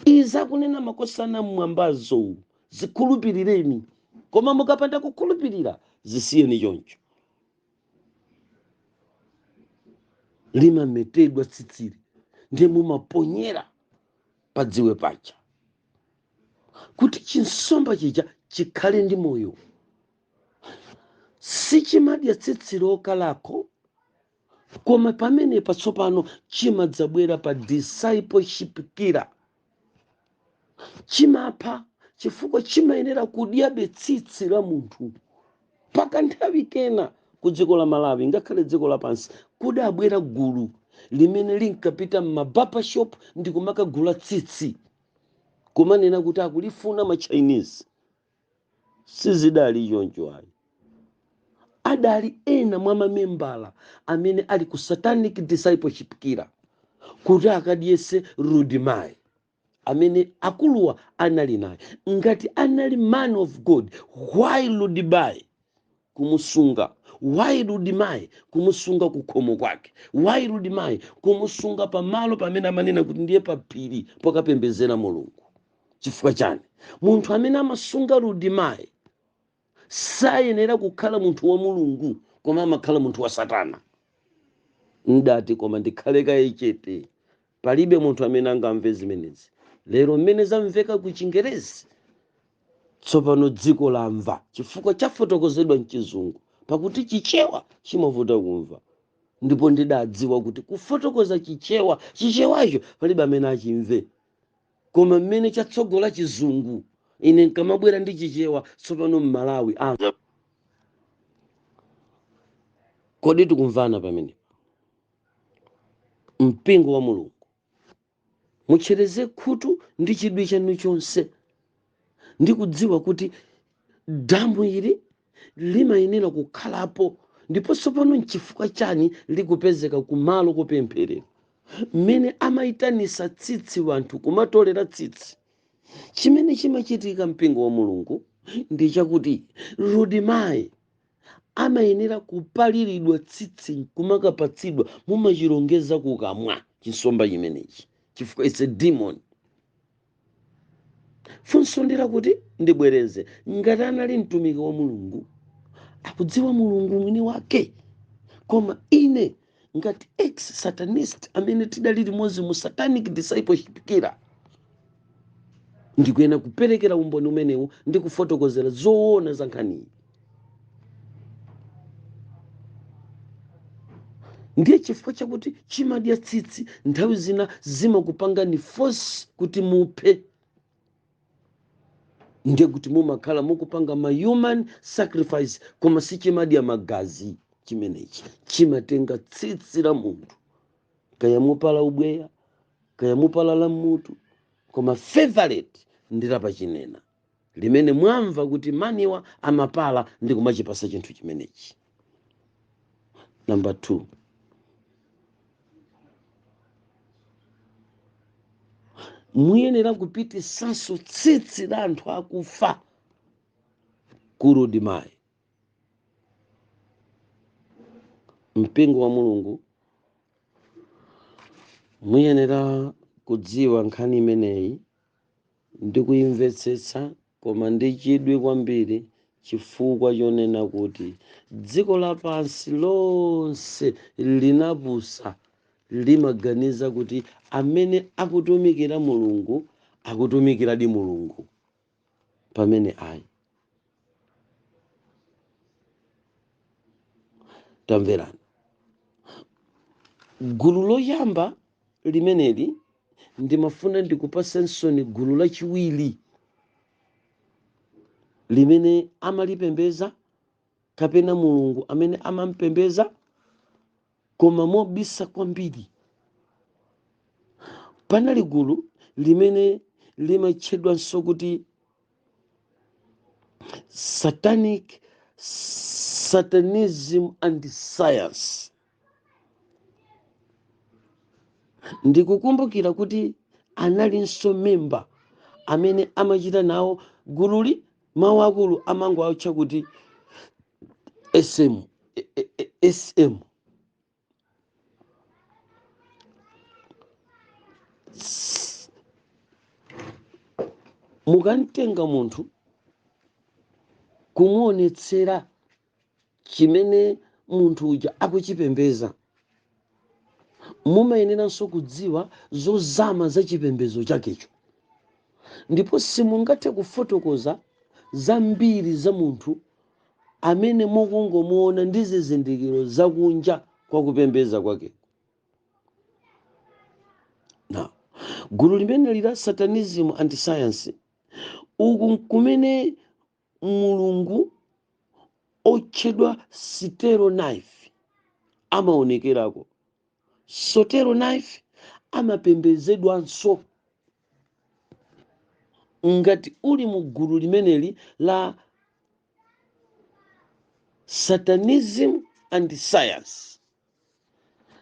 izi zakunena makosana mmwambazo zikhulupirireni koma mukapanda kukhulupirira zisiyeni choncho limametedwa tsitsili ndiye mumaponyera padziwe paja kuti chinsomba chija chikhale ndi moyo sichimadya tsitsi lokalako koma pamene patsopano chimadzabwera pa discipleship killer chimapha chifukwa chimayenera kudyabe tsitsi la munthu pakanthawi kena ku dziko la malawi ngakhale dziko lapansi kudabwera gulu limene linkapita m'ma barber shop ndi kumakagula tsitsi kumanena kuti akulifuna ma chinese sizidali choncho ayi adali ena mwa mamembala amene ali ku satanic discipleship killer kuti akadyese rudimai amene akuluwa anali naye ngati anali man of god why rudimai kumusunga why rudimai kumusunga kukhomo kwake why rudimai kumusunga pamalo pamene amanena kuti ndiye paphiri pokapembedzera mulungu chifukwa chani munthu amene amasunga rudimai sayenera kukhala munthu wa mulungu koma amakhala munthu wa satana ndati koma ndikhale kaye chete Palibe munthu amene angamve zimenezi lero mmene zamveka ku Chingerezi. Tsopano dziko lamva chifukwa chafotokozedwa m'Chizungu, pakuti Chichewa chimavuta kumva. Ndipo ndidadziwa kuti kufotokoza Chichewa, Chichewacho palibe amene achimve. Koma mmene chatsogola Chizungu, ine nkamabwera ndi Chichewa, tsopano m'Malawi amva. Kodi tikumvana pamenepa? mpingo wa mulungu mutchereze khutu ndi chidwi chanu chonse ndi kudziwa kuti damu ili limayenera kukhalapo ndipo tsopano nchifukwa chani likupezeka kumalo kopempherera mmene amayitanisa tsitsi wanthu kumatolera tsitsi chimene chimachitika mpingo wa mulungu ndi chakuti Rudimayi amayenera kupaliridwa tsitsi kumakapatsidwa mumachilongeza kukamwa chinsomba chimenechi chifukwa it's a demon funso ndi lakuti ndibwereze ngati anali mtumiki wa mulungu akudziwa mulungu mwini wake koma ine ngati ex satanist amene tidali limodzi mu satanic discipleship kira ndikuyena kuperekera umboni umenewu ndi kufotokozera zoona za nkhaniyi ndiye chifukwa chakuti chimadya tsitsi nthawi zina zimakupangani force kuti muphe ndiye kuti mumakhala mukupanga ma human sacrifice koma sichimadya magazi chimenechi chimatenga tsitsi la munthu kaya mupala ubweya kaya mupala la mutu koma favorite ndi lapachinena limene mwamva kuti maniwa amapala ndi kumachipasa chinthu chimenechi Number two, muyenera kupitisanso tsitsi la anthu akufa ku Rudimayi mpingo wa mulungu muyenera kudziwa nkhani imeneyi Ndi kuimvetsetsa koma ndi chidwi kwambiri chifukwa chonena kuti dziko lapansi lonse linapusa limaganiza kuti amene akutumikira Mulungu akutumikiradi Mulungu pamene ayi. tamverani gulu loyamba limeneli ndimafuna ndikupatseni tsono gulu lachiwiri limene amalipembeza kapena mulungu amene amampembeza koma mobisa kwambiri panali gulu limene limatchedwanso kuti satanic satanism and science ndikukumbukira kuti analinso memba amene amachita nawo gululi mawu akulu amangowatcha kuti sm e- e- e- sm mukamtenga munthu kumuonetsera chimene munthu uja akuchipembeza mumayeneranso kudziwa zozama za chipembezo chakecho ndipo simungathe kufotokoza zambiri za munthu amene mukungomuona ndi zizindikiro za kunja kwa kupembeza kwake now gulu limeneli la satanism and science uku nkumene mulungu otchedwa sitero knife amaonekerako sotero knife amapembezedwanso ngati uli mu gulu limeneli la satanism and science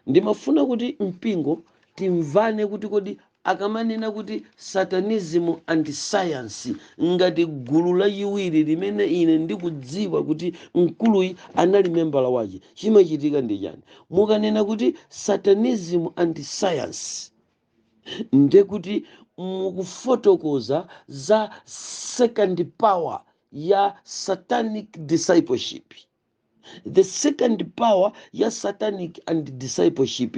ndimafuna kuti mpingo timvane kuti kodi akamanena kuti satanism and science ngati gulu lachiwiri limene ine ndikudziwa kuti mkuluyi anali membala wache chimachitika ndi chani mukanena kuti satanism and science ndekuti mukufotokoza za second power ya satanic discipleship the second power ya satanic and discipleship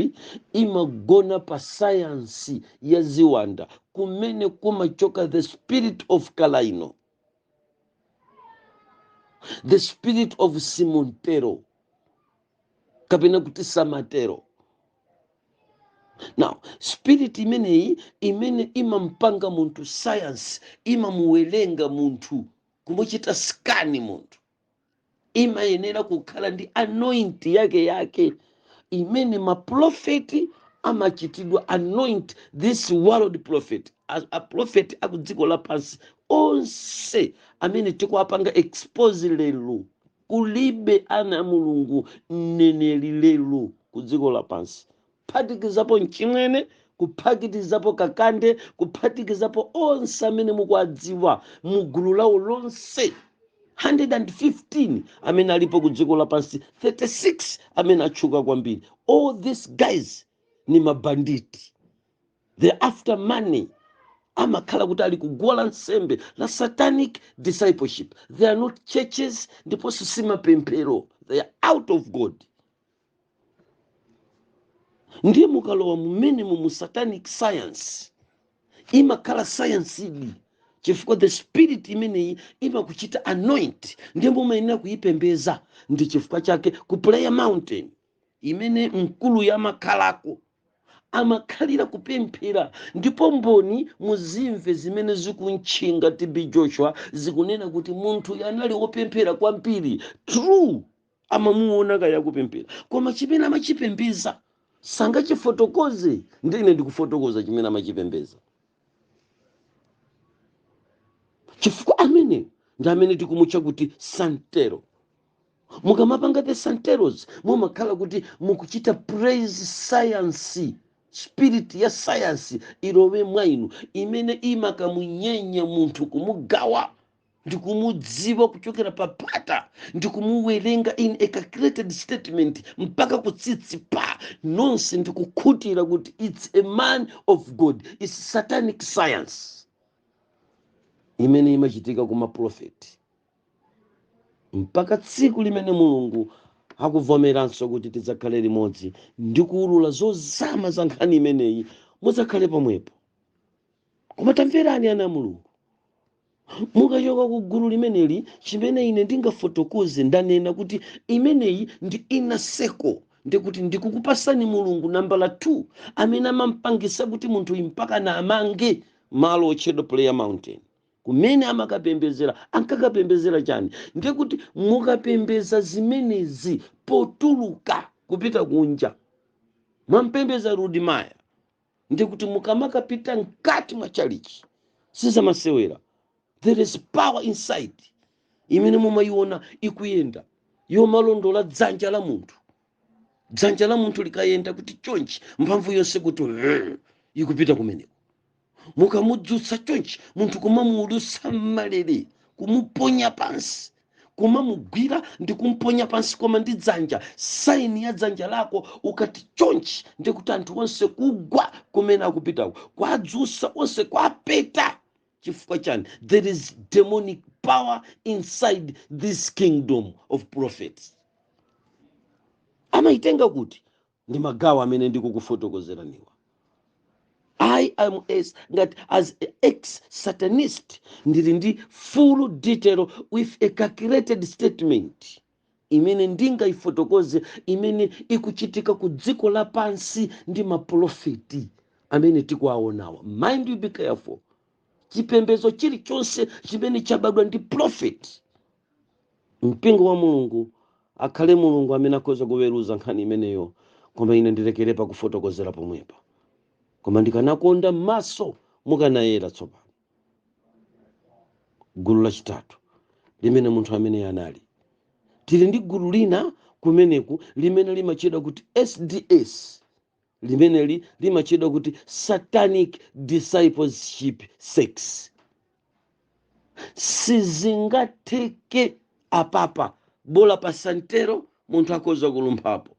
imagona pa sayansi ya ziwanda kumene kumachoka the spirit of kalaino the spirit of simontero kapena kuti santero now spirit imeneyi imene imampanga munthu science imamuwerenga munthu kumuchita scan munthu imayenera kukhala ndi anoint yake yake imene maprofeti amachitidwa anoint this world prophet aprofeti akudziko lapansi onse amene tikuwapanga expose lero Kulibe ana a Mulungu, mneneri, lero ku dziko lapansi, kuphatikizapo mchimwene, kuphatikizapo kakande, kuphatikizapo onse amene mukuwadziwa mu gulu lawo lonse, 115 amene alipo ku dziko lapansi, 36 amene atchuka kwambiri, all these guys ni mabanditi. they're after money amakhala kuti ali kuguwa la nsembe la satanic discipleship they are not churches ndiponso si mapemphero they are out of god ndiye mukalowa mumenemo mu satanic science imakhala science idi chifukwa the spirit imeneyi imakuchita anoint ndiye mumayenera kuyipembeza ndi chifukwa chake ku prayer mountain imene mkuluyu amakhalako amakhalira kupemphera ndipo mboni muzimve zimene zikumtchinga tb joshua zikunena kuti munthuyu anali wopemphera kwambiri true amamuona akaya kupemphera koma chimene amachipembeza sangachifotokoze ndine ndikufotokoza chimene amachipembeza chifukwa amene ndi amene tikumutcha kuti santero mukamapanga the santeros mumakhala kuti mukuchita praise science spirit ya sayansi ilowe mwa inu imene imakamunyenya munthu kumugawa ndi kumudziwa kuchokera pa phata ndi kumuwerenga in a calculated statement mpaka kutsitsi pa nonse ndi kukhutira kuti its a man of god its satanic science imene imachitika ku maprofeti mpaka tsiku limene mulungu akuvomeranso kuti tidzakhale limodzi ndi kuwulula zozama za nkhani imeneyi mudzakhale pomwepo koma tamverani ana a mulungu mukachoka ku gulu limeneli chimene ine ndingafotokoze ndanena kuti imeneyi ndi inner circle ndikuti ndikukupasani mulungu nambala 2 amene amampangisa kuti munthuyu mpakana amange malo otchedwa prayer mountain Kumene amakapembedzera, ankakapembedzera chani? Ndiye kuti mukapembedza zimenezi potuluka kupita kunja, mwamupembedza Rudi Maya, ndiye kuti mukamakapita mkati mwa chalichi sizamasewera. There is power inside imene mumayiona ikuyenda yomalondola dzanja la munthu. Dzanja la munthu likayenda kuti chonchi, mphamvu yonse kuti hmm, ikupita kumeneko. mukamudzutsa chonchi munthu kumamuulutsa m'malere kumuponya pansi kumamugwira ndi kumponya pansi koma ndi dzanja saini ya dzanja lako ukati chonchi ndi kuti anthu onse kugwa kumene akupitako kwadzutsa onse kwapeta chifukwa chani there is demonic power inside this kingdom of prophets amayitenga kuti ndi magawo amene ndikukufotokozeraniwa i am ngati as ex satanist ndili ndi full detail with a calculated statement imene ndingayifotokoze imene ikuchitika ku dziko lapansi ndi maprofeti amene tikuwaonawa mind you be careful chipembedzo chilichonse chimene chabadwa ndi prophet Mpingo wa Mulungu akhale Mulungu amene akhoza kuweruza nkhani imeneyo, koma ine ndilekere pakufotokozera pomwepa. Koma ndikanakonda m'maso mukanayera tsopano. Gulu lachitatu limene munthu ameneyo anali. Tili ndi gulu lina kumeneku limene limatchedwa kuti SDS, limeneli limatchedwa kuti satanic discipleship sex sizingatheke apapa bola pa santero munthu akhoza kulumphapo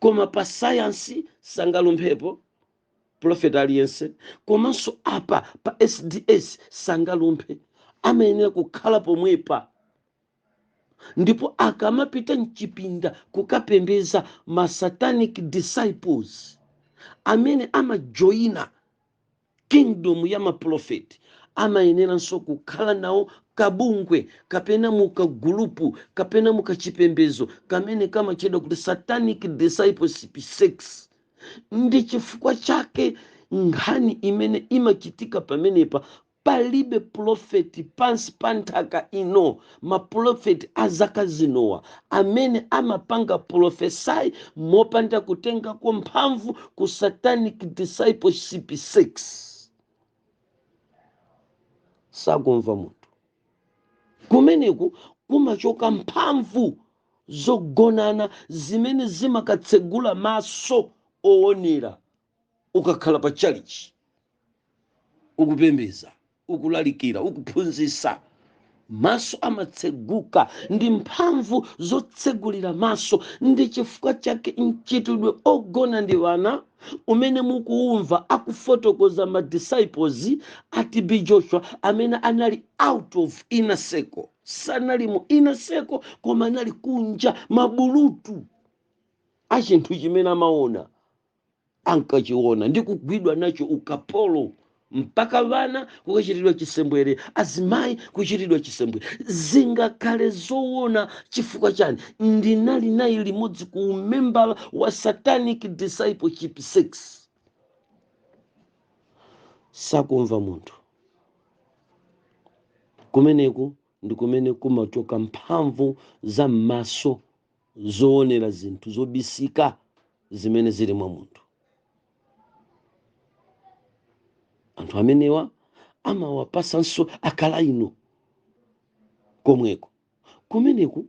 koma pa sayansi sangalumphepo profeta aliyense komanso apa pa sds sangalumphe amayenera kukhala pomwepa ndipo akamapita mchipinda kukapembeza ma satanic disciples amene amajoyina kingdom ya maprofeti amayeneranso kukhala nawo kabungwe kapena mukagulupu kapena mukachipembezo kamene kamatchedwa kuti satanic discipleship sex ndi chifukwa chake nkhani imene imachitika pamenepa Palibe profeti pansi pa nthaka ino, maprofeti a zaka zinowa, amene amapanga profesai mopanda kutengako mphamvu ku satanic discipleship sex sakumva munthu kumeneku kumachoka mphamvu zogonana zimene zimakatsegula maso owonera ukakhala pa chalichi ukupembeza ukulalikira ukuphunzisa maso amatseguka ndi mphamvu zotsegulira maso ndi chifukwa chake mchitidwe ogona ndi wana umene mukuumva akufotokoza ma disciples a tb joshua amene anali out of inner circle sanali mu inner circle koma anali kunja mabulutu a chinthu chimene amawona ankachiona ndi kugwidwa nacho ukapolo mpaka wana kukachitidwa chisembwere azimayi kuchitidwa chisembwere zingakhale zoona chifukwa chani ndinali naye limodzi ku umembala wa satanic discipleship sects sakumva munthu kumeneku ndi kumene kumachoka mphamvu za m'maso zoonera zinthu zobisika zimene zili mwa munthu anthu amenewa amawapasanso akalaino komweko kumeneku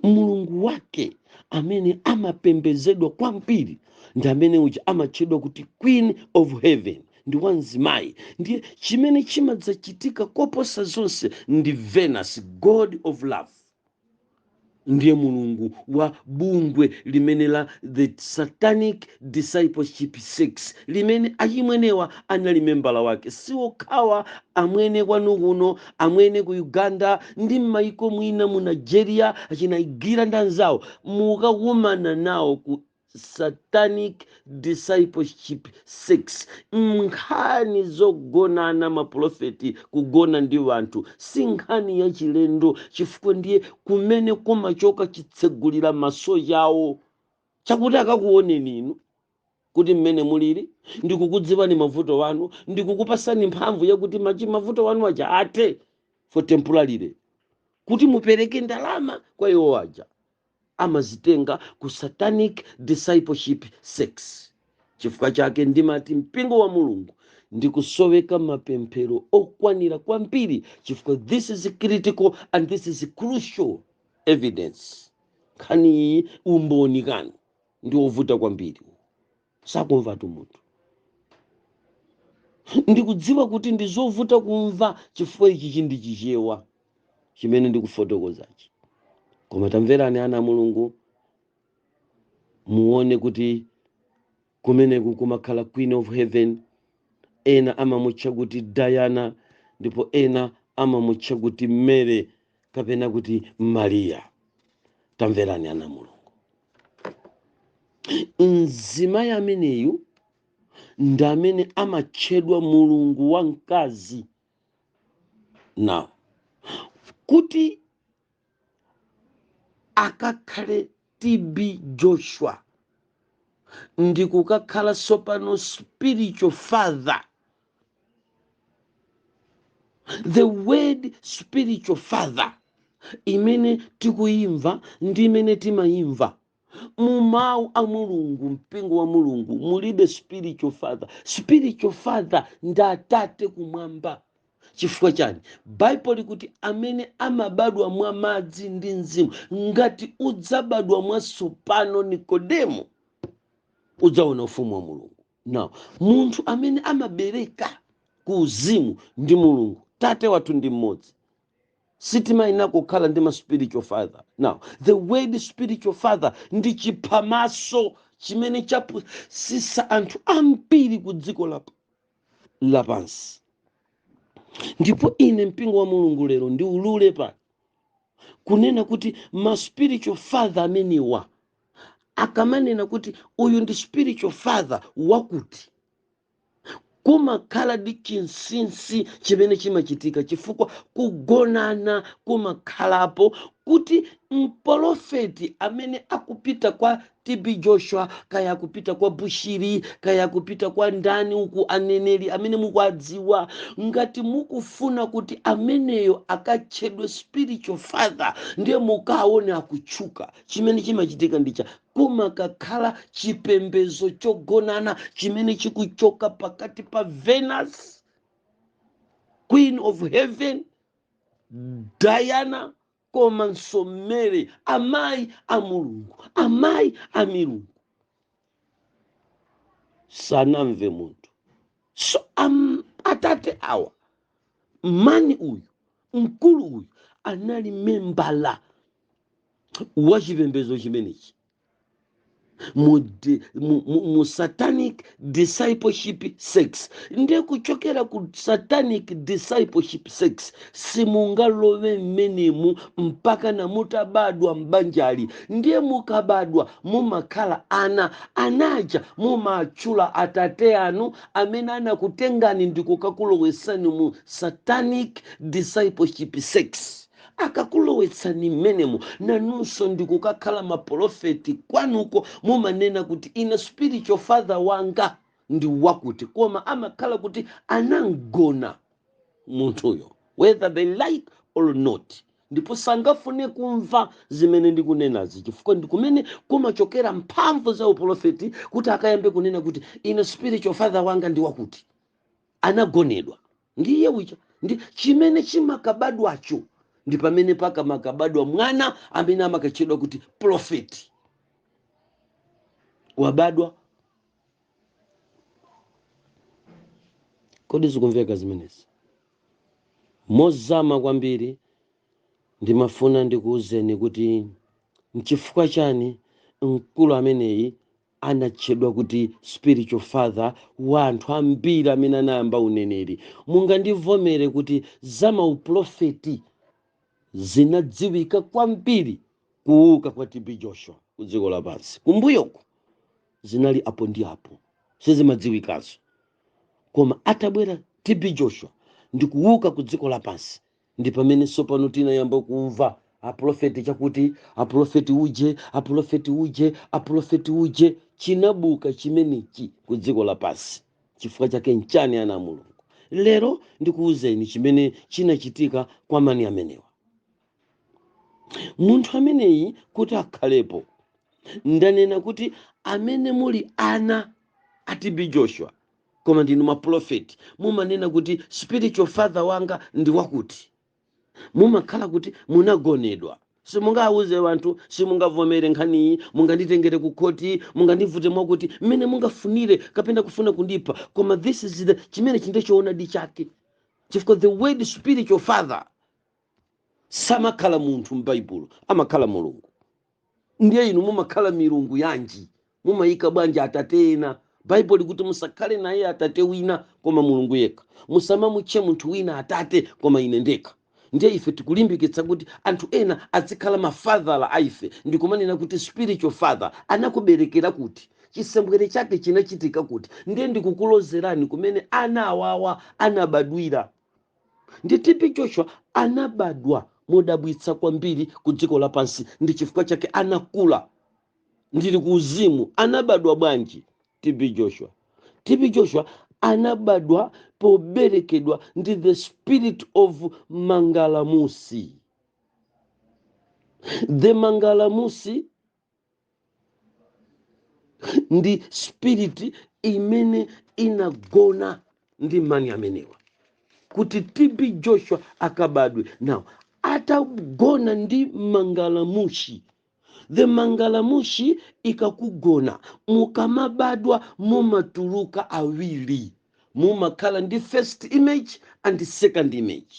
mulungu wake amene amapembezedwa kwambiri ndi amene uja amatchedwa kuti queen of heaven ndi wamzimayi ndiye chimene chimadzachitika koposa zonse ndi venus god of love ndiye mulungu wa bungwe limenelo la the satanic discipleship sects limene achimwenewa anali membala wake siwokhawa amwene kwanu kuno amwene ku uganda ndi m'mayiko mwina mu nigeria achinaigwira ndi anzawo mukakumana nawo ku satanic discipleship sects nkhani zogonana mapolofeti kugona ndi wanthu si nkhani yachilendo chifukwa ndiye kumene kumachoka chitsegulira maso chawo chakuti akakuoneni inu kuti mmene mulili ndikukudziwani mavuto wanu ndikukupasani mphamvu yakuti mavuto wanu aja athe for temporarily kuti mupereke ndalama kwa iwo aja amazitenga ku satanic discipleship sects. Chifukwa chake ndimati mpingo wa Mulungu ndikusoweka mapemphero okwanira kwambiri chifukwa this is critical and this is crucial evidence. Nkhani iyi umboni wake ndi ovuta kwambiri. sakumvatu munthu ndikudziwa kuti ndi zovuta kumva chifukwa ichichi ndi chichewa chimene ndikufotokozachi koma tamverani ana a mulungu muone kuti kumeneku kumakhala queen of heaven ena amamutcha kuti diana ndipo ena amamutcha kuti mary kapena kuti mariya tamverani ana a mulungu mzimayi ameneyu ndi amene amatchedwa mulungu wamkazi now kuti akakhale tb joshua ndi kukakhala sopano spiritual father the word spiritual father imene tikuyimva ndi imene timayimva mu mawu a mulungu mpingo wa mulungu mulibe spiritual father spiritual father ndi atate kumwamba chifukwa chani baibulo likuti amene amabadwa mwa madzi ndi mzimu ngati sudzabadwa mwatsopano nikodemo sudzaona ufumu wa mulungu Now. Munthu amene amabereka ku uzimu ndi Mulungu. Tate wathu ndi mmodzi. Sitimayenera kukhala ndi ma spiritual father. Now, the word spiritual father ndi chiphamaso chimene chapusisa anthu ambiri ku dziko lap, lapansi. Ndipo ine mpingo wa Mulungu lero ndiulule pa kunena kuti ma spiritual father amenewa akamanena kuti uyu ndi spiritual father wakuti kumakhala ndi chinsinsi chimene chimachitika chifukwa kugonana kumakhalapo kuti mpolofeti amene akupita kwa tb joshua kaya akupita kwa bushiri kaya akupita kwa ndani uku aneneri amene mukuadziwa ngati mukufuna kuti ameneyo akatchedwe spiritual father ndiye mukaone akutchuka chimene chimachitika ndicha kumakakhala chipembezo chogonana chimene chikuchoka pakati pa venus queen of heaven diana komanso mary amayi a mulungu amayi a milungu sanamve munthu so am, atate awa mani uyu mkulu uyu anali membala wa chipembedzo chimenechi mu, di- mu, mu, mu satanic discipleship sex ndiye kuchokera ku satanic discipleship sex simungalowe mmenemu mpaka na mutabadwa m'banjali ndiye mukabadwa mumakhala ana anaja mumatchula atate anu amene anakutengani ndikukakulowesani mu satanic discipleship sex Akakulowetsani mmenemo nanunso ndikukakhala mapolofeti kwanuko mumanena kuti ine spiritual father wanga ndi wakuti koma amakhala kuti anamgona munthuyo whether they like or not ndipo sangafune kumva zimene ndikunenazi chifukwa ndikumene kumachokera mphamvu za upolofeti kuti akayambe kunena kuti ine spiritual father wanga ndi wakuti anagonedwa ndi iye uja ndi chimene chimakabadwacho ndi pamene pamakabadwa mwana amene amakatchedwa kuti profeti wabadwa kodi zikumveka zimenezi mozama kwambiri ndimafuna ndikuwuzeni kuti nchifukwa chani mkulu ameneyi anatchedwa kuti spiritual father wa anthu ambiri amene anayamba uneneri mungandivomere kuti za maupulofeti zinadziwika kwambiri kuuka kwa tb joshua ku dziko lapansi kumbuyoko zinali apo ndi apo sizimadziwikanso koma atabwera tb joshua ndi kuuka ku dziko lapansi ndi pamene tsopano tinayamba kumva apulofeti chakuti apulofeti uje apulofeti uje apulofeti uje chinabuka chimenechi ku dziko lapansi chifukwa chake nchani ana a mulungu lero ndikuwuzeni chimene chinachitika kwa mani amenewa munthu ameneyi kuti akhalepo ndanena kuti amene muli ana a tb joshua koma ndinu mapulofeti mumanena kuti spiritual father wanga ndi wakuti mumakhala kuti munagonedwa simungawawuze wanthu simungavomere nkhaniyi munganditengere ku khoti mungandivute mwakuti mmene mungafunire kapena kufuna kundipha koma this is the chimene chili choonadi chake chifukwa the word spiritual father samakhala munthu m'baibulo amakhala mulungu ndiye inu mumakhala milungu yanji mumayikabwanji atate ena baibulo likuti musakhale naye atate wina koma mulungu yekha musamamutche munthu wina atate koma ine ndekha ndiye ife tikulimbikitsa kuti anthu ena azikhala mafadhala a ife ndikumanena kuti spiritual father anakuberekera kuti chisembwere chake chinachitika kuti ndiye ndikukulozerani kumene ana awawa anabadwira Ndi TB Joshua anabadwa modabwitsa kwambiri ku dziko lapansi, ndi chifukwa chake anakula ali ku uzimu. Anabadwa bwanji TB Joshua? TB Joshua anabadwa poberekedwa ndi the spirit of Mangalamusi. The Mangalamusi ndi spirit imene inagona ndi mayi amenewa kuti tb joshua akabadwe now atagona ndi mangalamushi the mangalamushi ikakugona mukamabadwa mumatuluka awiri mumakhala ndi first image and second image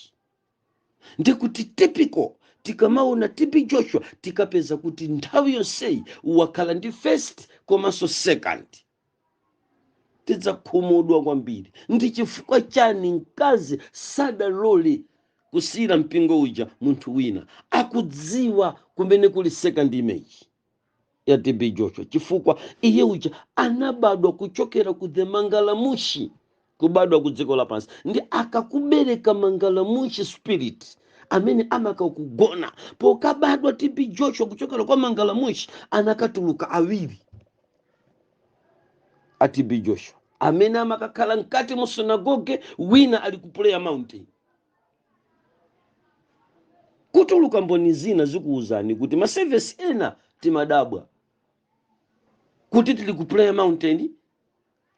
ndi kuti tipeze tikamaona tb joshua tikapeza kuti nthawi yonseyi wakhala ndi first komanso second tidzakhumudwa kwambiri ndi chifukwa chani mkazi sadalole kusiyira mpingo uja munthu wina akudziwa kumene kuli second image ya TB Joshua chifukwa iye uja anabadwa kuchokera ku the mangalamushi kubadwa ku dziko lapansi ndi akakubereka mangalamushi spirit amene amakakugona pokabadwa TB Joshua kuchokera kwa mangalamushi anakatuluka awiri a TB Joshua amene amakakhala mkati mu sunagoge wina ali ku prayer mountain kutuluka mboni zina zikuwuzani kuti ma service ena timadabwa kuti tili ku prayer mountain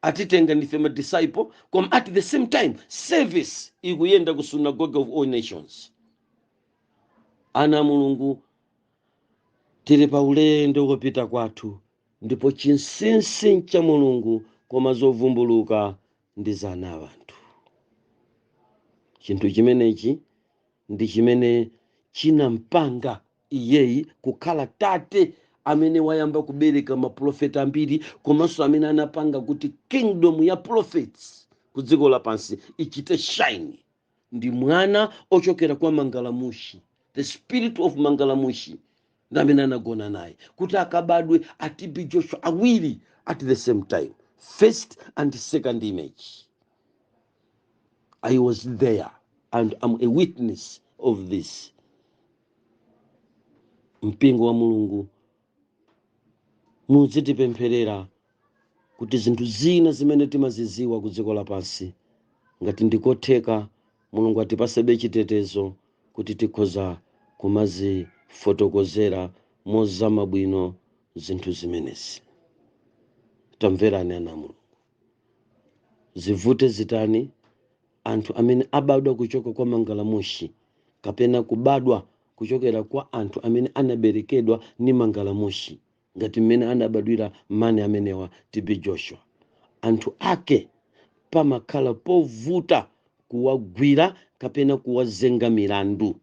atitenga ndife ma disciple koma at the same time service ikuyenda ku synagogue of all nations ana a mulungu tili pa ulendo wopita kwathu ndipo chinsinsi n'cha mulungu koma zovumbuluka ndi za ana a anthu. Chinthu chimenechi ndi chimene chinampanga iyeyi kukhala tate amene wayamba kubereka mapulofeti ambiri komanso amene anapanga kuti kingdom ya prophets ku dziko lapansi ichite shine ndi mwana ochokera kwa mangalamushi the spirit of mangalamushi ndi amene anagona naye kuti akabadwe a tb joshua awiri at the same time first and second image i was there and am a witness of this mpingo wa mulungu Mudzitipempherera kuti zinthu zina zimene timaziziwa ku dziko lapansi, ngati ndi kotheka, Mulungu atipasebe chitetezo kuti tikhoza kumazifotokozera mozama bwino zinthu zimenezi. Tamverani ana a Mulungu. Zivute zitani, anthu amene abadwa kuchoka kwa Mangalamushi kapena kubadwa kuchokera kwa anthu amene anaberekedwa ni Mangalamushi ngati mmene anabadwira mani amenewa, TB Joshua, anthu ake pamakhala povuta kuwagwira kapena kuwazenga milandu.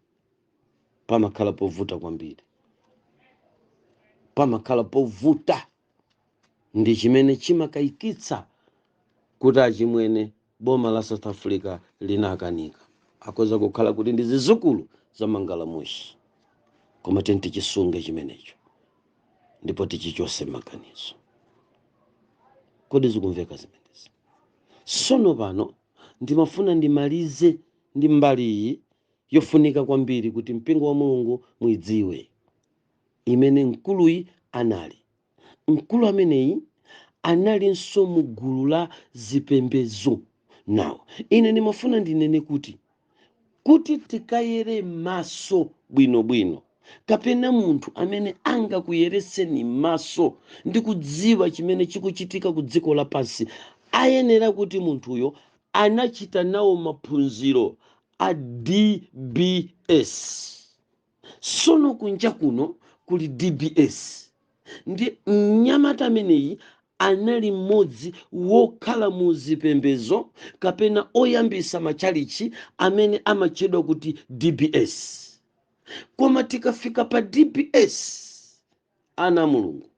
Pamakhala povuta kwambiri. Pamakhala povuta. Ndi chimene chimakaikitsa kuti achimwene boma la south africa linakanika akhoza kukhala kuti ndi zizukulu za mangalamushi koma tiyeni tichisunge chimenecho ndipo tichichose maganizo kodi zikumveka zimenezi sono pano ndimafuna ndimalize ndi mbali iyi yofunika kwambiri kuti mpingo wa mulungu muidziwe imene mkuluyi anali Mkulu ameneyi analinso mu gulu la zipembedzo. Now, ine ndimafuna ndinene kuti, kuti tikayere mmaso bwinobwino, kapena munthu amene angakuyeretseni mmaso ndi kudziwa chimene chikuchitika ku dziko lapansi, ayenera kuti munthuyo anachita nawo maphunziro a DBS. Sono kunja kuno kuli dbs ndi mnyamata ameneyi anali mmodzi wokhala mu zipembezo kapena oyambisa matchalitchi amene amatchedwa kuti dbs koma tikafika pa dbs ana a mulungu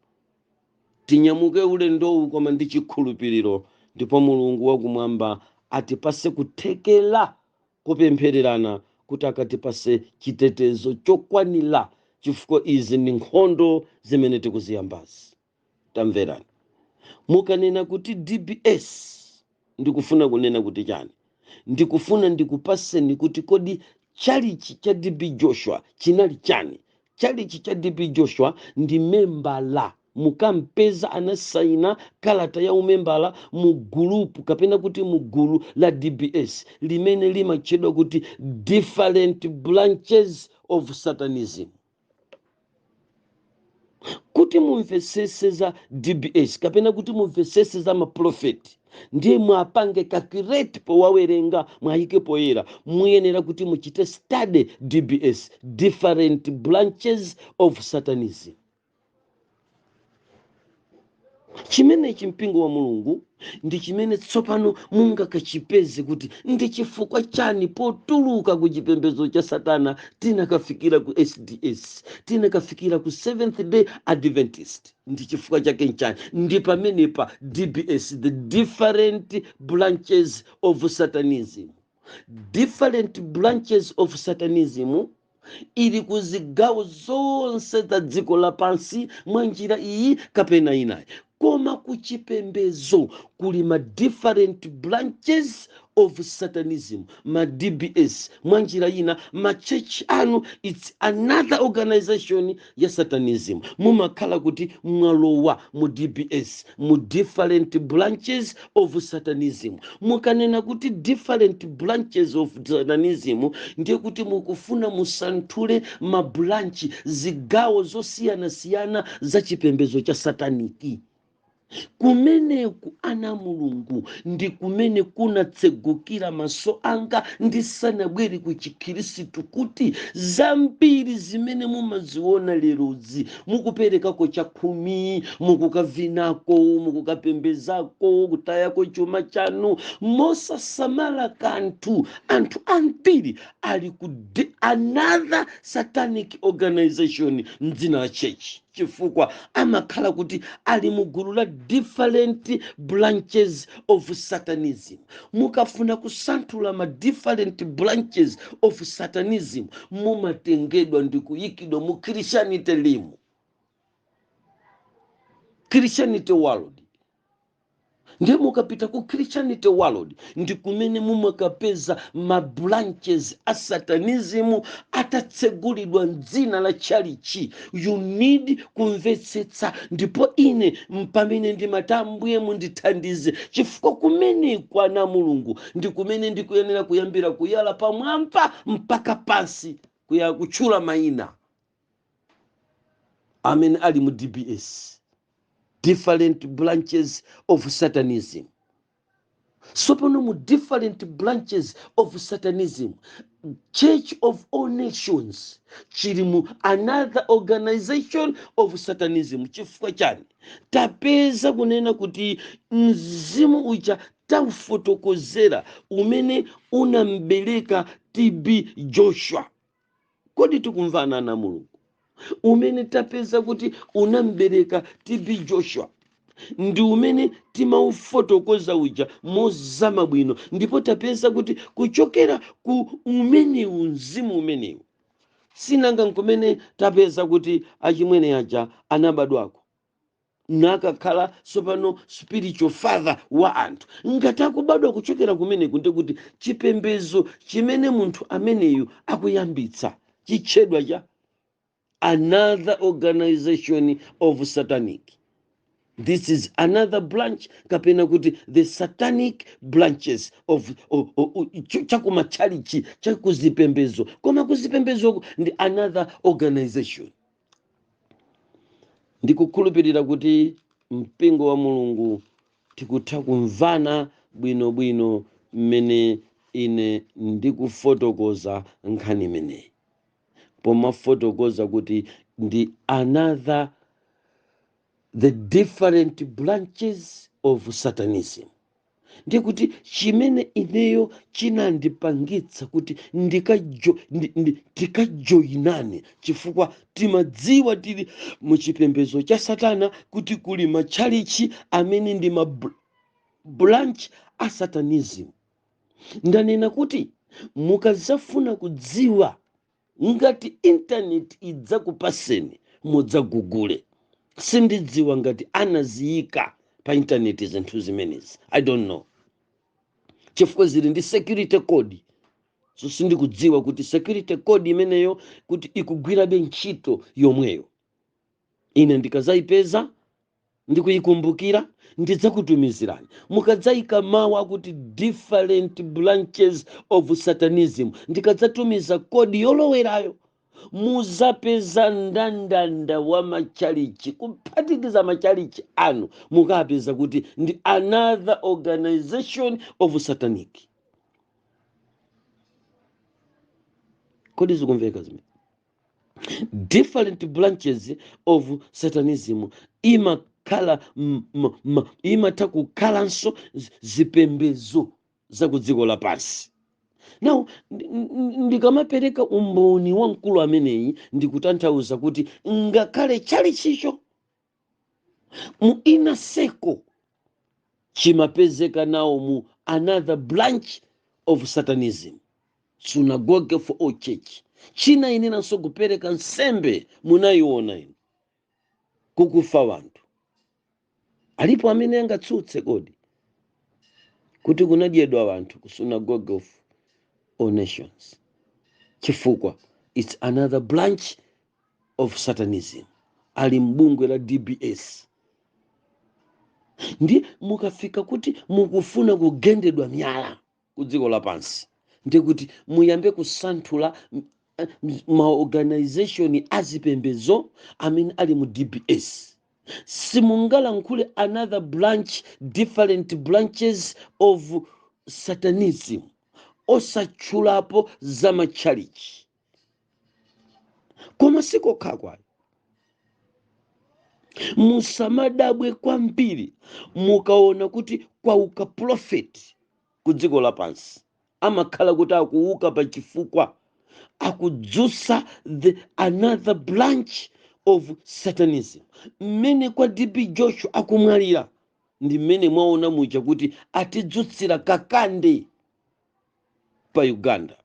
tinyamuke ulendowu koma ndi chikhulupiliro ndipo mulungu wakumwamba atipase kuthekela kopemphererana kuti akatipase chitetezo chokwanila chifukwa izi ndi nkhondo zimene tikuziyambazi. Tamverani. Mukanena kuti DBS ndikufuna kunena kuti chani? Ndikufuna ndikupaseni kuti kodi tchalichi cha TB Joshua chinali chani? Tchalichi cha TB Joshua ndi membala Mukampeza anasaina kalata ya umembala mu gulupu kapena kuti mu gulu la DBS limene limatchedwa kuti Different Branches of Satanism. Kuti mumvetsetse za DBS kapena kuti mumvetsetse za mapulofeti ndiye mwapange kakireti powawerenga mwayike poyera, muyenera kuti muchite study DBS, Different Branches of Satanism. chimenechi mpingo wa mulungu ndi chimene tsopano mungakachipeze kuti ndi chifukwa chani potuluka ku chipembedzo cha satana tinakafikira ku sds tinakafikira ku seventh day adventist ndi chifukwa chake nchani ndi pamenepa dbs the different branches of satanism different branches of satanism ili ku zigawo zonse za dziko lapansi mwa njira iyi kapena inayi koma ku chipembedzo kuli ma different branches of satanism ma dbs mwa njira ina ma church anu its another organization ya satanism mumakhala kuti mwalowa mu dbs mu different branches of satanism mukanena kuti different branches of satanism ndiye kuti mukufuna musanthule mabranchi zigawo zosiyanasiyana za chipembedzo cha sataniki kumeneku ana a mulungu ndi kumene kunatsegukira maso anga ndisanabwere ku chikhirisitu kuti zambiri zimene mumaziona lerozi mukuperekako chakhumi mukukavinako mukukapembezako kutayako chuma chanu mosasamala kanthu anthu ambiri ali ku de- another satanic organization mdzina la chechi chifukwa amakhala kuti ali mu gulu la different branches of satanism mukafuna kusanthula ma different branches of satanism mumatengedwa ndi kuyikidwa mu christianity imu christianity world ndiye mukapita ku christianity world ndi kumene mumakapeza ma branches a satanism atatsegulidwa mdzina la chalichi you need kumvetsetsa ndipo ine mpamene ndimati ambuye mundithandize chifukwa kumeneku ana a mulungu ndi kumene ndikuyenera kuyambira kuyala pamwamba mpaka pansi kuya kutchula mayina amene ali mu dbs different branches of satanism sopano mu different branches of satanism church of all nations chili mu another organization of satanism chifukwa chani tapeza kunena kuti mzimu uja taufotokozera umene unambereka tb joshua kodi tikumvana ana a mulungu umene tapeza kuti unambereka tb joshua ndi umene timaufotokoza uja mozama bwino ndipo tapeza kuti kuchokera ku umenewu mzimu umenewu sinanga nkumene tapeza kuti achimwene aja anabadwako nakakhala tsopano spiritual father wa anthu ngati akubadwa kuchokera kumeneku ndiye kuti chipembedzo chimene munthu ameneyu akuyambitsa chitchedwa cha another organization of satanic this is another branch kapena kuti the satanic branches of, of, of, of ch- chakumatchalichi chakuzipembedzo koma kuzipembedzoku ndi another organization ndikukhulupirira kuti mpingo wa mulungu tikutha kumvana bwinobwino mmene ine ndikufotokoza nkhani imeneyi pomafotokoza kuti ndi another the different branches of satanism ndiye kuti chimene ineyo chinandipangitsa kuti ndikajo- ndi- ndi- tikajoyinane chifukwa timadziwa tili mu chipembedzo cha satana kuti kuli matchalichi amene ndi ma br- branch a satanism ndanena kuti mukadzafuna kudziwa Ngati intaneti idzakupaseni mudza-google. Sindidziwa ngati anaziyika pa intaneti zinthu zimenezi. I don't know. Chifukwa zili ndi security code. So sindikudziwa kuti security code imeneyo kuti ikugwirabe ntchito yomweyo. Ine ndikazayipeza ndikuyikumbukira, ndidzakutumizirani. Mukadzaika mawu akuti different branches of Satanism, ndikadzatumiza code yolowerayo, muzapeza ndandanda wa matchalitchi, kuphatikiza matchalitchi anu, mukapeza kuti ndi another organization of satanic. Kodi zikumveka zimene? different branches of satanism imakhala m- m- m- imatha kukhalanso zi- zipembedzo za ku dziko lapansi now ndi- ndi- ndikamapereka umboni wa mkulu ameneyi ndikutanthauza kuti ngakhale tchalichicho mu inner circle chimapezeka nawo mu another branch of satanism synagogue for all church chinayeneranso kupereka nsembe munayiona inu kukufa wanthu alipo amene angatsutse kodi kuti kunadyedwa wanthu ku synagogue of all nations chifukwa it's another branch of satanism ali m'bungwe la dbs ndi mukafika kuti mukufuna kugendedwa miyala ku dziko lapansi ndi kuti muyambe kusanthula maorganization azipembedzo amene ali mu dbs simungalankhule another branch different branches of satanism osatchulapo za matchalichi koma sikokha kwayi musamadabwe kwambiri mukaona kuti kwauka profeti ku dziko lapansi amakhala kuti akuuka pa chifukwa akudzutsa the another branch of satanism mmene kwa tb joshua akumwalira ndi mmene mwaona muja kuti atidzutsira kakande pa uganda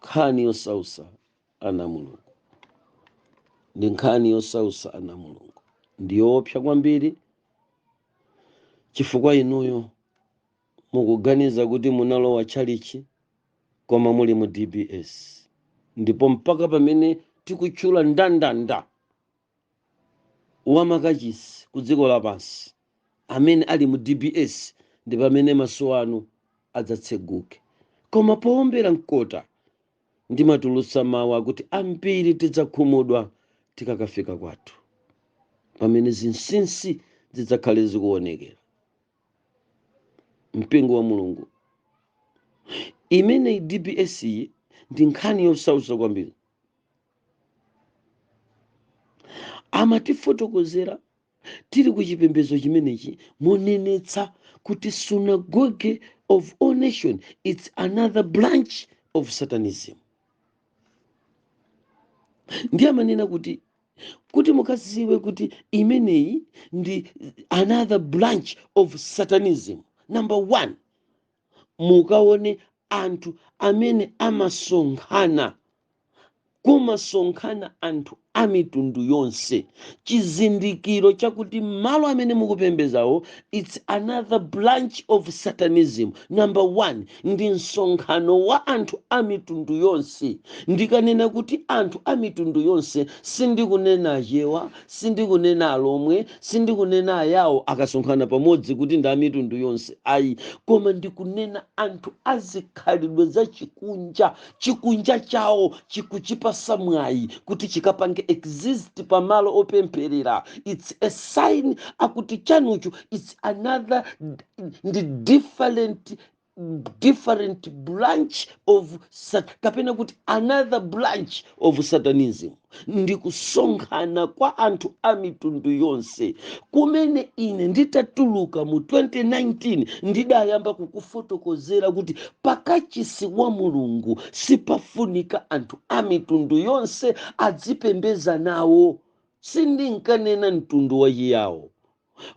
nkhani yosautsa ana a mulungu ndi nkhani yosautsa ana a mulungu ndi yoopsa kwambiri chifukwa inuyo mukuganiza kuti munalowa tchalichi koma muli mu dbs ndipo mpaka pamene tikutchula ndandanda wa makachisi ku dziko lapansi amene ali mu dbs ndi pamene maso anu adzatseguke koma powombera mkota ndimatulutsa mawu akuti ambiri tidzakhumudwa tikakafika kwathu pamene zinsinsi zidzakhale zikuonekera mpingo wa mulungu imeneyi dbs iyi ndi nkhani yosautsa kwambiri amatifotokozera tili ku chipembedzo chimenechi monenetsa kuti synagogue of all nation it's another branch of satanism ndiye amanena kuti kuti mukadziwe kuti imeneyi ndi another branch of satanism number one mukaone anthu amene amasonkhana, kumasonkhana anthu a mitundu yonse, chizindikiro chakuti malo amene mukupembedzawo it's another branch of satanism. Number one, ndi msonkhano wa anthu a mitundu yonse. Ndikanena kuti anthu a mitundu yonse, sindikunena Achewa, Sindikunena Alomwe, sindikunena Ayawo akasonkhana pamodzi kuti ndi a mitundu yonse ayi, koma ndikunena anthu a zikhalidwe zachikunja, chikunja chawo chikuchipasa mwayi kuti chikapange exist pa malo opempherera, it's a sign yakuti chanucho it's another ndi different different branch of sat kapena kuti another branch of satanism ndi kusonkhana kwa anthu a mitundu yonse kumene ine nditatuluka mu 2019 ndidayamba kukufotokozera kuti pakachisi wa mulungu sipafunika anthu a mitundu yonse adzipembeza nawo sindinkanena mtundu wachiyawo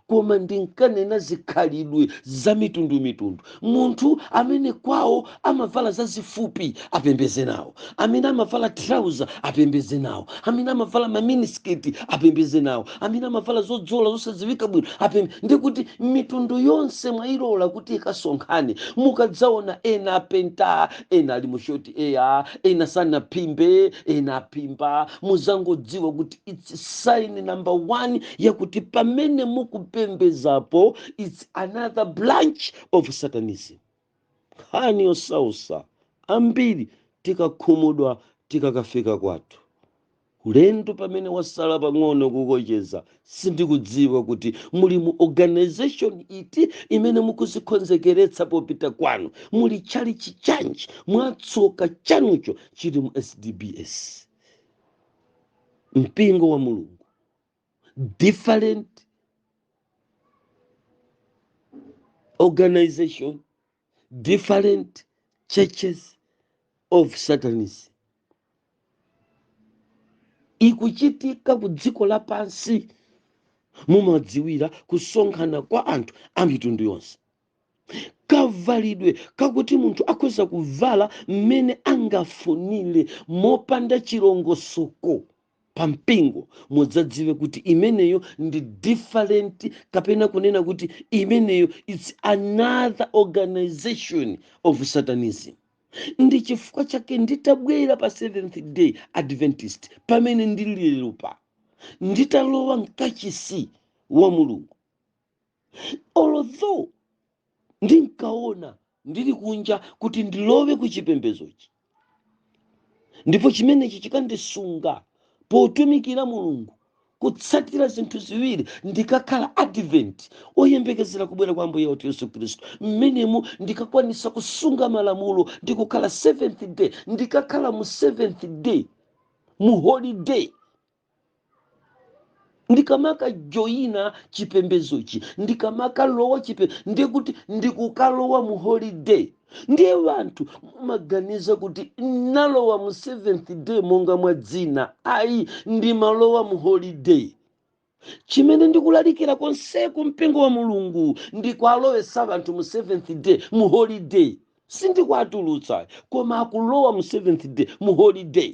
koma ndinkanena zikhalidwe za mitundumitundu munthu amene kwawo amavala zazifupi apembeze nawo amene amavala trauza apembeze nawo amene amavala maminisiketi apembeze nawo amene amavala zodzola zosadziwika bwino apembe ndikuti mitundu yonse mwayilola kuti ikasonkhane mukadzaona ena apenta ena ali mushoti eya ena sanaphimbe ena aphimba muzangodziwa kuti its sign number one yakuti pamene mukupembezapo its another branch of satanism nkhani yosausa ambiri tikakhumudwa tikakafika kwathu ulendo pamene wasala pang'ono kukocheza sindikudziwa kuti muli mu organization iti imene mukuzikonzekeretsa popita kwanu muli tchalichi chanji mwatsoka chanucho chili mu sdbs mpingo wa mulungu different organization different churches of satanism ikuchitika ku dziko lapansi mumadziwira kusonkhana kwa anthu a mitundu yonse kavalidwe kakuti munthu akhoza kuvala mmene angafunire mopanda chilongosoko pa mpingo mudzadziwe kuti imeneyo ndi different kapena kunena kuti imeneyo its another organization of satanism ndi chifukwa chake nditabwera pa seventh day adventist pamene ndili lero pa nditalowa mkachisi wa mulungu although ndinkaona ndili kunja kuti ndilowe ku chipembedzochi ndipo chimenechi chikandisunga potumikira mulungu kutsatira zinthu ziwiri ndikakhala advent oyembekezera kubwera kwa ambuye wathu yesu khristu mmenemu ndikakwanisa kusunga malamulo ndi kukhala seventh day ndikakhala mu seventh day mu holiday ndikamakajoyina chipembedzochi ndikamakalowa chipe ndiye kuti ndikukalowa mu holiday ndiye vanthu amaganiza kuti nalowa mu seventh day monga mwa dzina ayi ndimalowa mu holiday chimene ndikulalikira konseku mpingo wa mulungu ndikuwalowetsa vanthu mu seventh day mu holiday sindikuwatulutsa koma akulowa mu seventh day mu holiday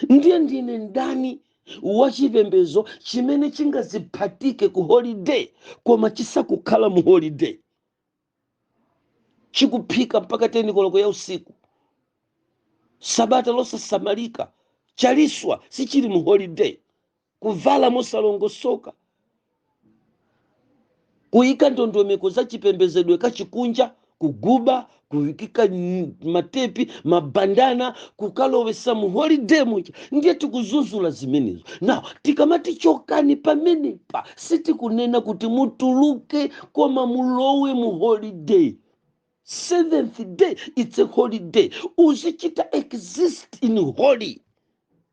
ndiye ndine ndani wachipembedzo chimene chingaziphatike ku holiday koma chisakukhala mu holiday chikuphika mpaka tenikoloko ya usiku sabata losasamalika chaliswa sichili mu holiday kuvala mosalongosoka kuyika ndondomeko za chipembezedwe kachikunja kuguba kuyikika n- matepi mabandana kukalowesa mu holiday muja ndiye tikuzuzula zimenezo now tikamati chokani pamenepa sitikunena kuti mutuluke koma mulowe mu holiday seventh day it's a holy day uzichita exist in holy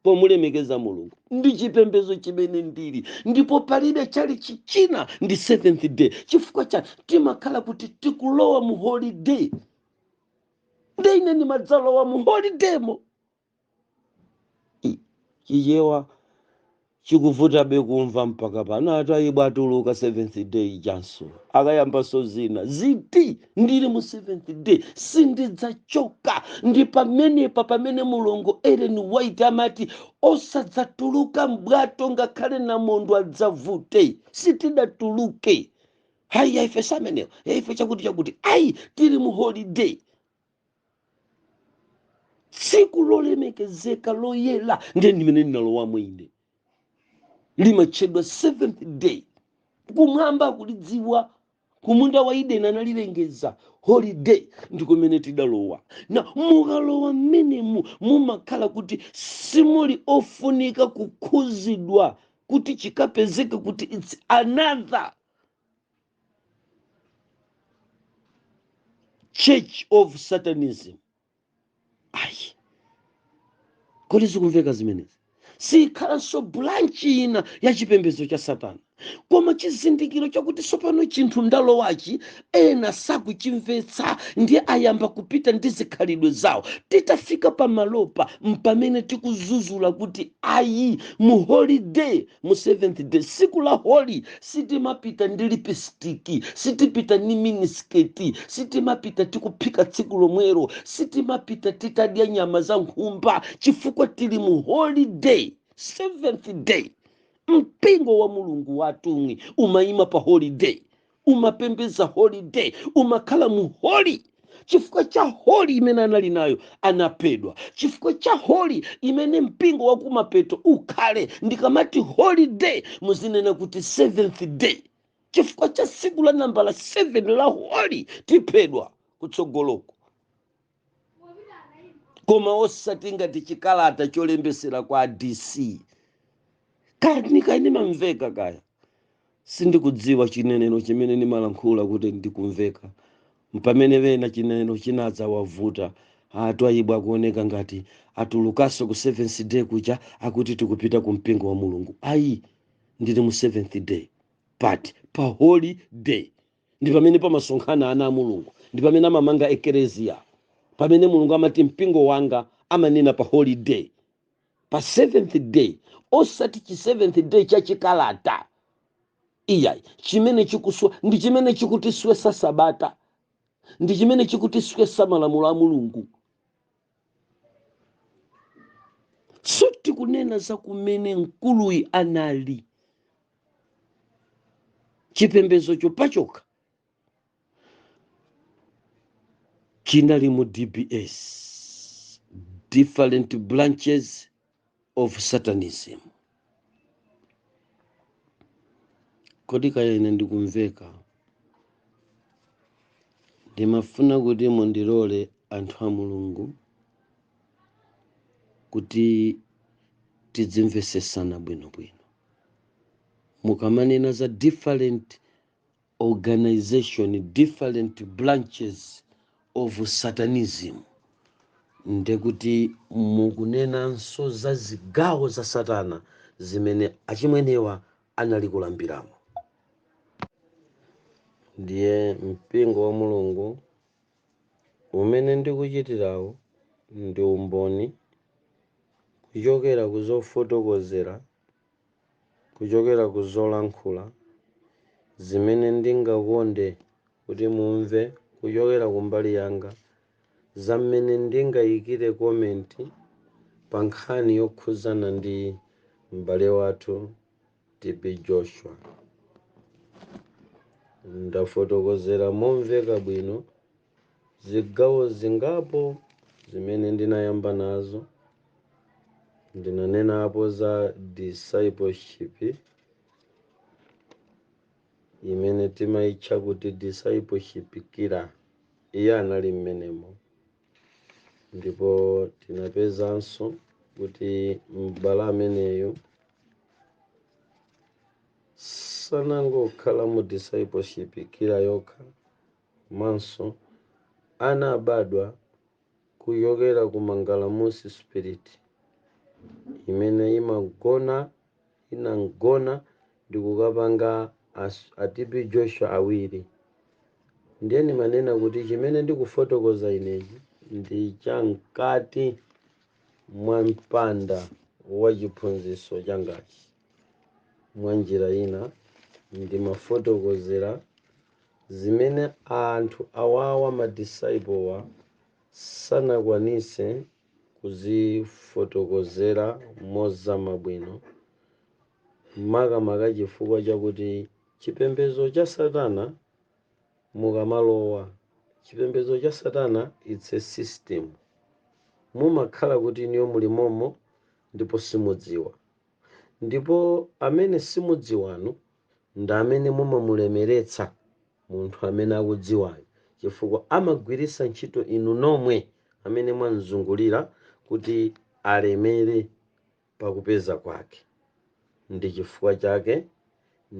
pomulemekeza mulungu ndi chipembedzo chimene ndili ndipo palibe chali chichina ndi seventh day chifukwa cha timakhala kuti tikulowa mu holiday nde ine ndimadzalowa mu holidaymo chichewa chikuvutabe kumva mpaka pano ati ayi watuluka seventh day ijanso akayambanso zina ziti ndili mu seventh day sindidzachoka ndi pamenepa pamene mulongo ellen white amati osadzatuluka mbwato ngakhale namondwe adzavute sitidatuluke hayi yaife si amenewo yaife chakuti chakuti ayi tili mu holiday tsiku lolemekezeka loyera ndiye ndi mmene ndinalowamo ine limatchedwa seventh day kumwamba kulidziwa kumunda wa edeni analilengeza holiday ndikumene tidalowa na mukalowa mmenemu mumakhala kuti simuli ofunika kukhuzidwa kuti chikapezeke kuti its another church of satanism ayi kodi zikumveka zimenezi sikhalanso bulanchi ina ya chipembedzo cha satana koma chizindikiro chakuti tsopano chinthu ndalowachi ena sakuchimvetsa ndiye ayamba kupita ndi zikhalidwe zawo titafika pamalopa mpamene tikuzuzula kuti ayi mu holiday mu seventh day siku la holy sitimapita ndi lipistiki sitipita ni minisketi sitimapita tikuphika tsiku lomwero sitimapita titadya nyama za nkhumba chifukwa tili mu holy day seventh day mpingo wa mulungu watumwi umayima pa holy day umapembedza holy day umakhala mu holy chifukwa cha holy imene anali nayo anaphedwa chifukwa cha holy imene mpingo wakumapeto ukhale ndikamati holy day muzinena kuti seventh day chifukwa cha tsiku la nambala 7 la holy tiphedwa kutsogoloko koma osati ngati chikalata cholembesera kwa dc kani kaya nimamveka kaya sindikudziwa chinenero chimene ndimalankhula kuti ndikumveka mpamene ena chinenero chinadzawavuta a twaibu akuoneka ngati atulukaso ku seventh day kuja akuti tikupita ku mpingo wa mulungu ayi ndili mu seventh day but pa holy day ndi pamene pamasonkhana ana a mulungu ndi pamene amamanga ekereziya pamene mulungu amati mpingo wanga amanena pa holy day pa seventh day osati chi seventh day cha chikalata iyayi chimene chikuswa ndi chimene chikutiswesa sabata ndi chimene chikutiswesa malamulo a mulungu sitikunena za kumene mkuluyi anali chipembedzocho pachokha chinali mu dbs different branches of Satanism. Kodi kaya ine ndikumveka? Ndimafuna kuti mundilole anthu a Mulungu kuti tidzimvesesana bwinobwino. Mukamanena za different organization different branches of satanism ndekuti mukunenanso za zigawo za satana zimene achimwenewa anali kulambiramo ndiye mpingo wa mulungu umene ndikuchitirawo ndi umboni kuchokera ku zofotokozera kuchokera ku zolankhula zimene ndingakonde kuti mumve kuchokera kumbali yanga za mmene ndingayikire komenti pa nkhani yokhudzana ndi m'bale wathu TB Joshua. Ndafotokozera momveka bwino Zigawo zingapo zimene ndinayamba nazo, ndinanenapo za discipleship imene timaitcha kuti discipleship killer. Iye anali mmenemo ndipo tinapezanso kuti m'bale ameneyo sanangokhala mu discipleship killer yokha komanso anaabadwa kuchokera ku mangalamusi spirit imene imagona inamgona ndi kukapanga a TB Joshua awiri ndiyeno ndimanena kuti chimene ndikufotokoza inechi ndi cha mkati mwa mpanda wa chiphunziso changachi. Mwa njira ina ndimafotokozera zimene anthu awawa ma disciple-wa sanakwanise kuzifotokozera mozama bwino makamaka chifukwa chakuti chipembezo cha satana mukamalowa chipembezo cha satana its a system mumakhala kuti inuyo muli momo ndipo simudziwa. Ndipo amene simudziwanu ndi amene mumamulemeretsa munthu amene akudziwayo, chifukwa amagwiritsa ntchito inu nomwe amene mwamzungulira kuti alemere pa kupeza kwake. Ndi chifukwa chake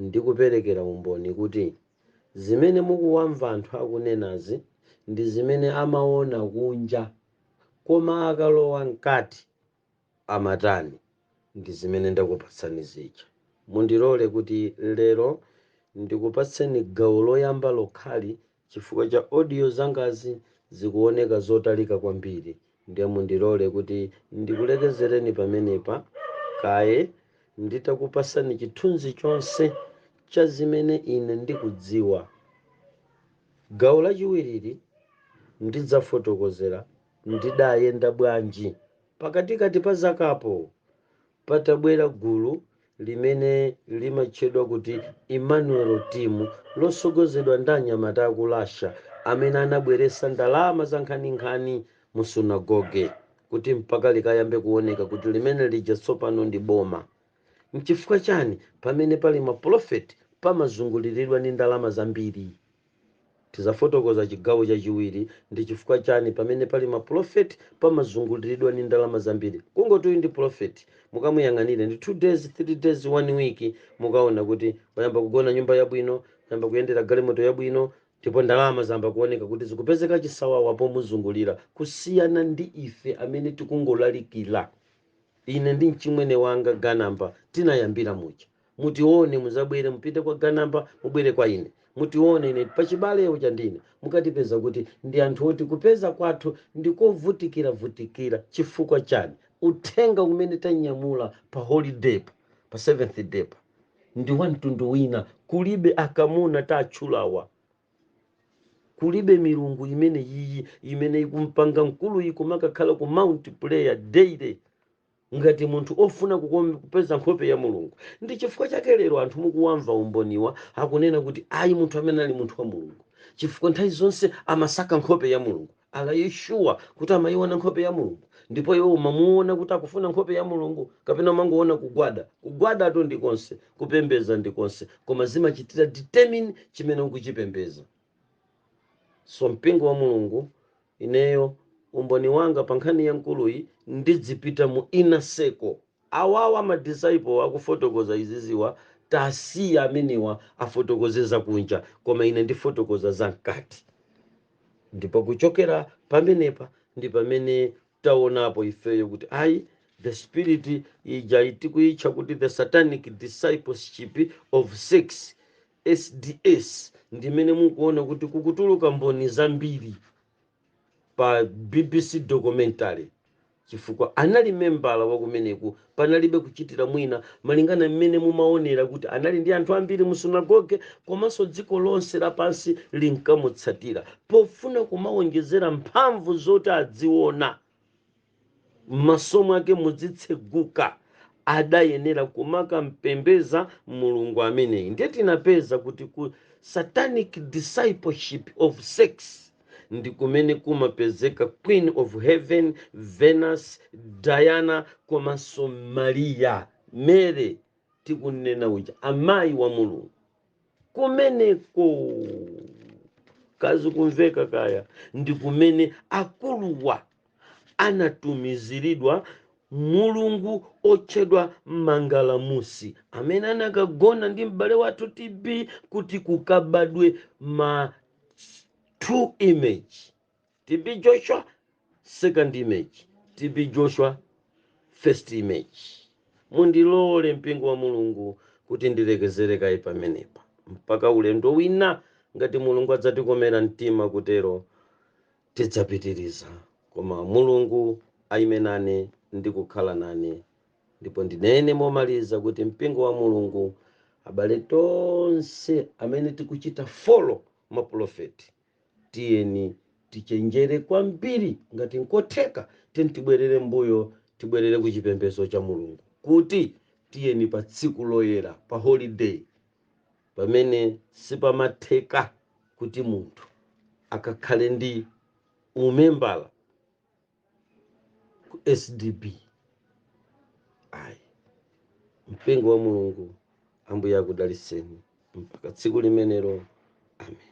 ndikuperekera umboni kuti zimene mukuwamva anthu akunenazi ndi zimene amaona kunja, koma akalowa mkati. amatani ndi zimene ndakupatsani zija? Mundilole kuti lero ndikupatseni gawo loyamba lokhali chifukwa cha audio zangazi zikuoneka zotalika kwambiri ndiye mundilole kuti ndikulekezereni pamenepa kaye nditakupasani chithunzi chonse cha zimene ine ndikudziwa. Gawo lachiwirili ndidzafotokozera Ndidayenda bwanji? Pakatikati pa zakapo, patabwera gulu limene limatchedwa kuti Emmanuel Team losogozedwa ndi anyamata aku Russia amene anabweresa ndalama zankhaninkhani mu sunagoge kuti mpaka likayambe kuoneka kuti limene lija tsopano ndi boma. Nchifukwa chani pamene pali ma polofeti pamazungulilidwa ndi ndalama zambiri? Tizafotokoza chigawo chachiwiri, ndi chifukwa chani pamene pali ma pulofeti pamazungulilidwa ndi ndalama zambiri. Kungoti uyu ndi pulofeti, mukamuyang'anire ndi 2 days, 3 days, 1 week, mukaona kuti wayamba kugona nyumba yabwino, wayamba kuyendera galimoto yabwino, ndipo ndalama zayamba kuoneka kuti zikupezeka chisawawa pomuzungulira, kusiyana ndi ife amene tikungolalikira. Ine ndi mchimwene wanga Ganamba tinayambira muja. Mutione, muzabwere, mupite kwa Ganamba, mubwere kwa ine. Mutione, ine pachibale uja ndine. Mukatipeza kuti ndi anthu oti kupeza kwathu ndi kovutikira vutikira. Chifukwa chani? Uthenga umene tanyamula pa holidaypa, pa seventh day pa, ndi wa mtundu wina. Kulibe akamuna tatchulawa. Kulibe milungu imeneyiyi imene ikumpanga mkuluyi kumakakhala ku Mount prayer daily. ngati munthu ofuna kupeza nkhope ya Mulungu. Ndi chifukwa chake lero anthu mukuwamva umboniwa akunena kuti ayi munthu amene ali munthu wa Mulungu chifukwa nthawi zonse amasaka nkhope ya Mulungu. Are you sure kuti amayiona nkhope ya Mulungu? Ndipo iwe umamuona kuti akufuna nkhope ya Mulungu kapena umangoona kugwada? Kugwadatu ndi konse, kupembeza ndi konse koma zimachitira determine chimene ukuchipembeza. So mpingo wa Mulungu Ineyo umboni wanga pa nkhani ya mkuluyi ndidzipita mu inner circle. Awawa ma disciple akufotokoza iziziwa tasiya amenewa afotokoze za kunja koma ine ndifotokoza za mkati ndipo kuchokera pamenepa ndi pamene taonapo ifeyo kuti ayi the spirit ija tikuitcha kuti the satanic discipleship of sex SDS ndi imene mukuona kuti kukutuluka mboni zambiri pa bbc documentary chifukwa anali membala wa kumeneku panalibe kuchitira mwina malingana mmene mumaonera kuti anali ndi anthu ambiri mu sunagoge komanso dziko lonse lapansi linkamutsatira pofuna kumawonjezera mphamvu zoti adziona m'maso mwake mudzitseguka adayenera kumakampembeza Mulungu ameneyi ndiye tinapeza kuti ku satanic discipleship of sex ndi kumene kumapezeka queen of heaven venus diana komanso maria mary tikunena uja amayi wa mulungu kumeneko kazi kumveka kaya ndi kumene akuluwa anatumizilidwa mulungu otchedwa Mangalamusi amene anakagona ndi m'bale wathu TB kuti kukabadwe ma two image TB Joshua second image TB Joshua first image. Mundilole mpingo wa Mulungu kuti ndilekezere kaye pamenepa mpaka ulendo wina ngati Mulungu adzatikomera mtima kutero Tidzapitiriza, koma Mulungu aime nane ndi kukhala nane. Ndipo ndinene momaliza kuti mpingo wa Mulungu, abale tonse amene tikuchita follow mapulofeti, tiyeni tichenjere kwambiri, ngati nkotheka tiyeni tibwerere m'mbuyo, tibwerere ku chipembedzo cha Mulungu, kuti tiyeni pa tsiku loyera, pa holiday, pamene sipamatheka kuti munthu akakhale ndi umembala ku SDB ayi mpingo wa Mulungu ambuye akudalitseni mpaka tsiku limenelo amen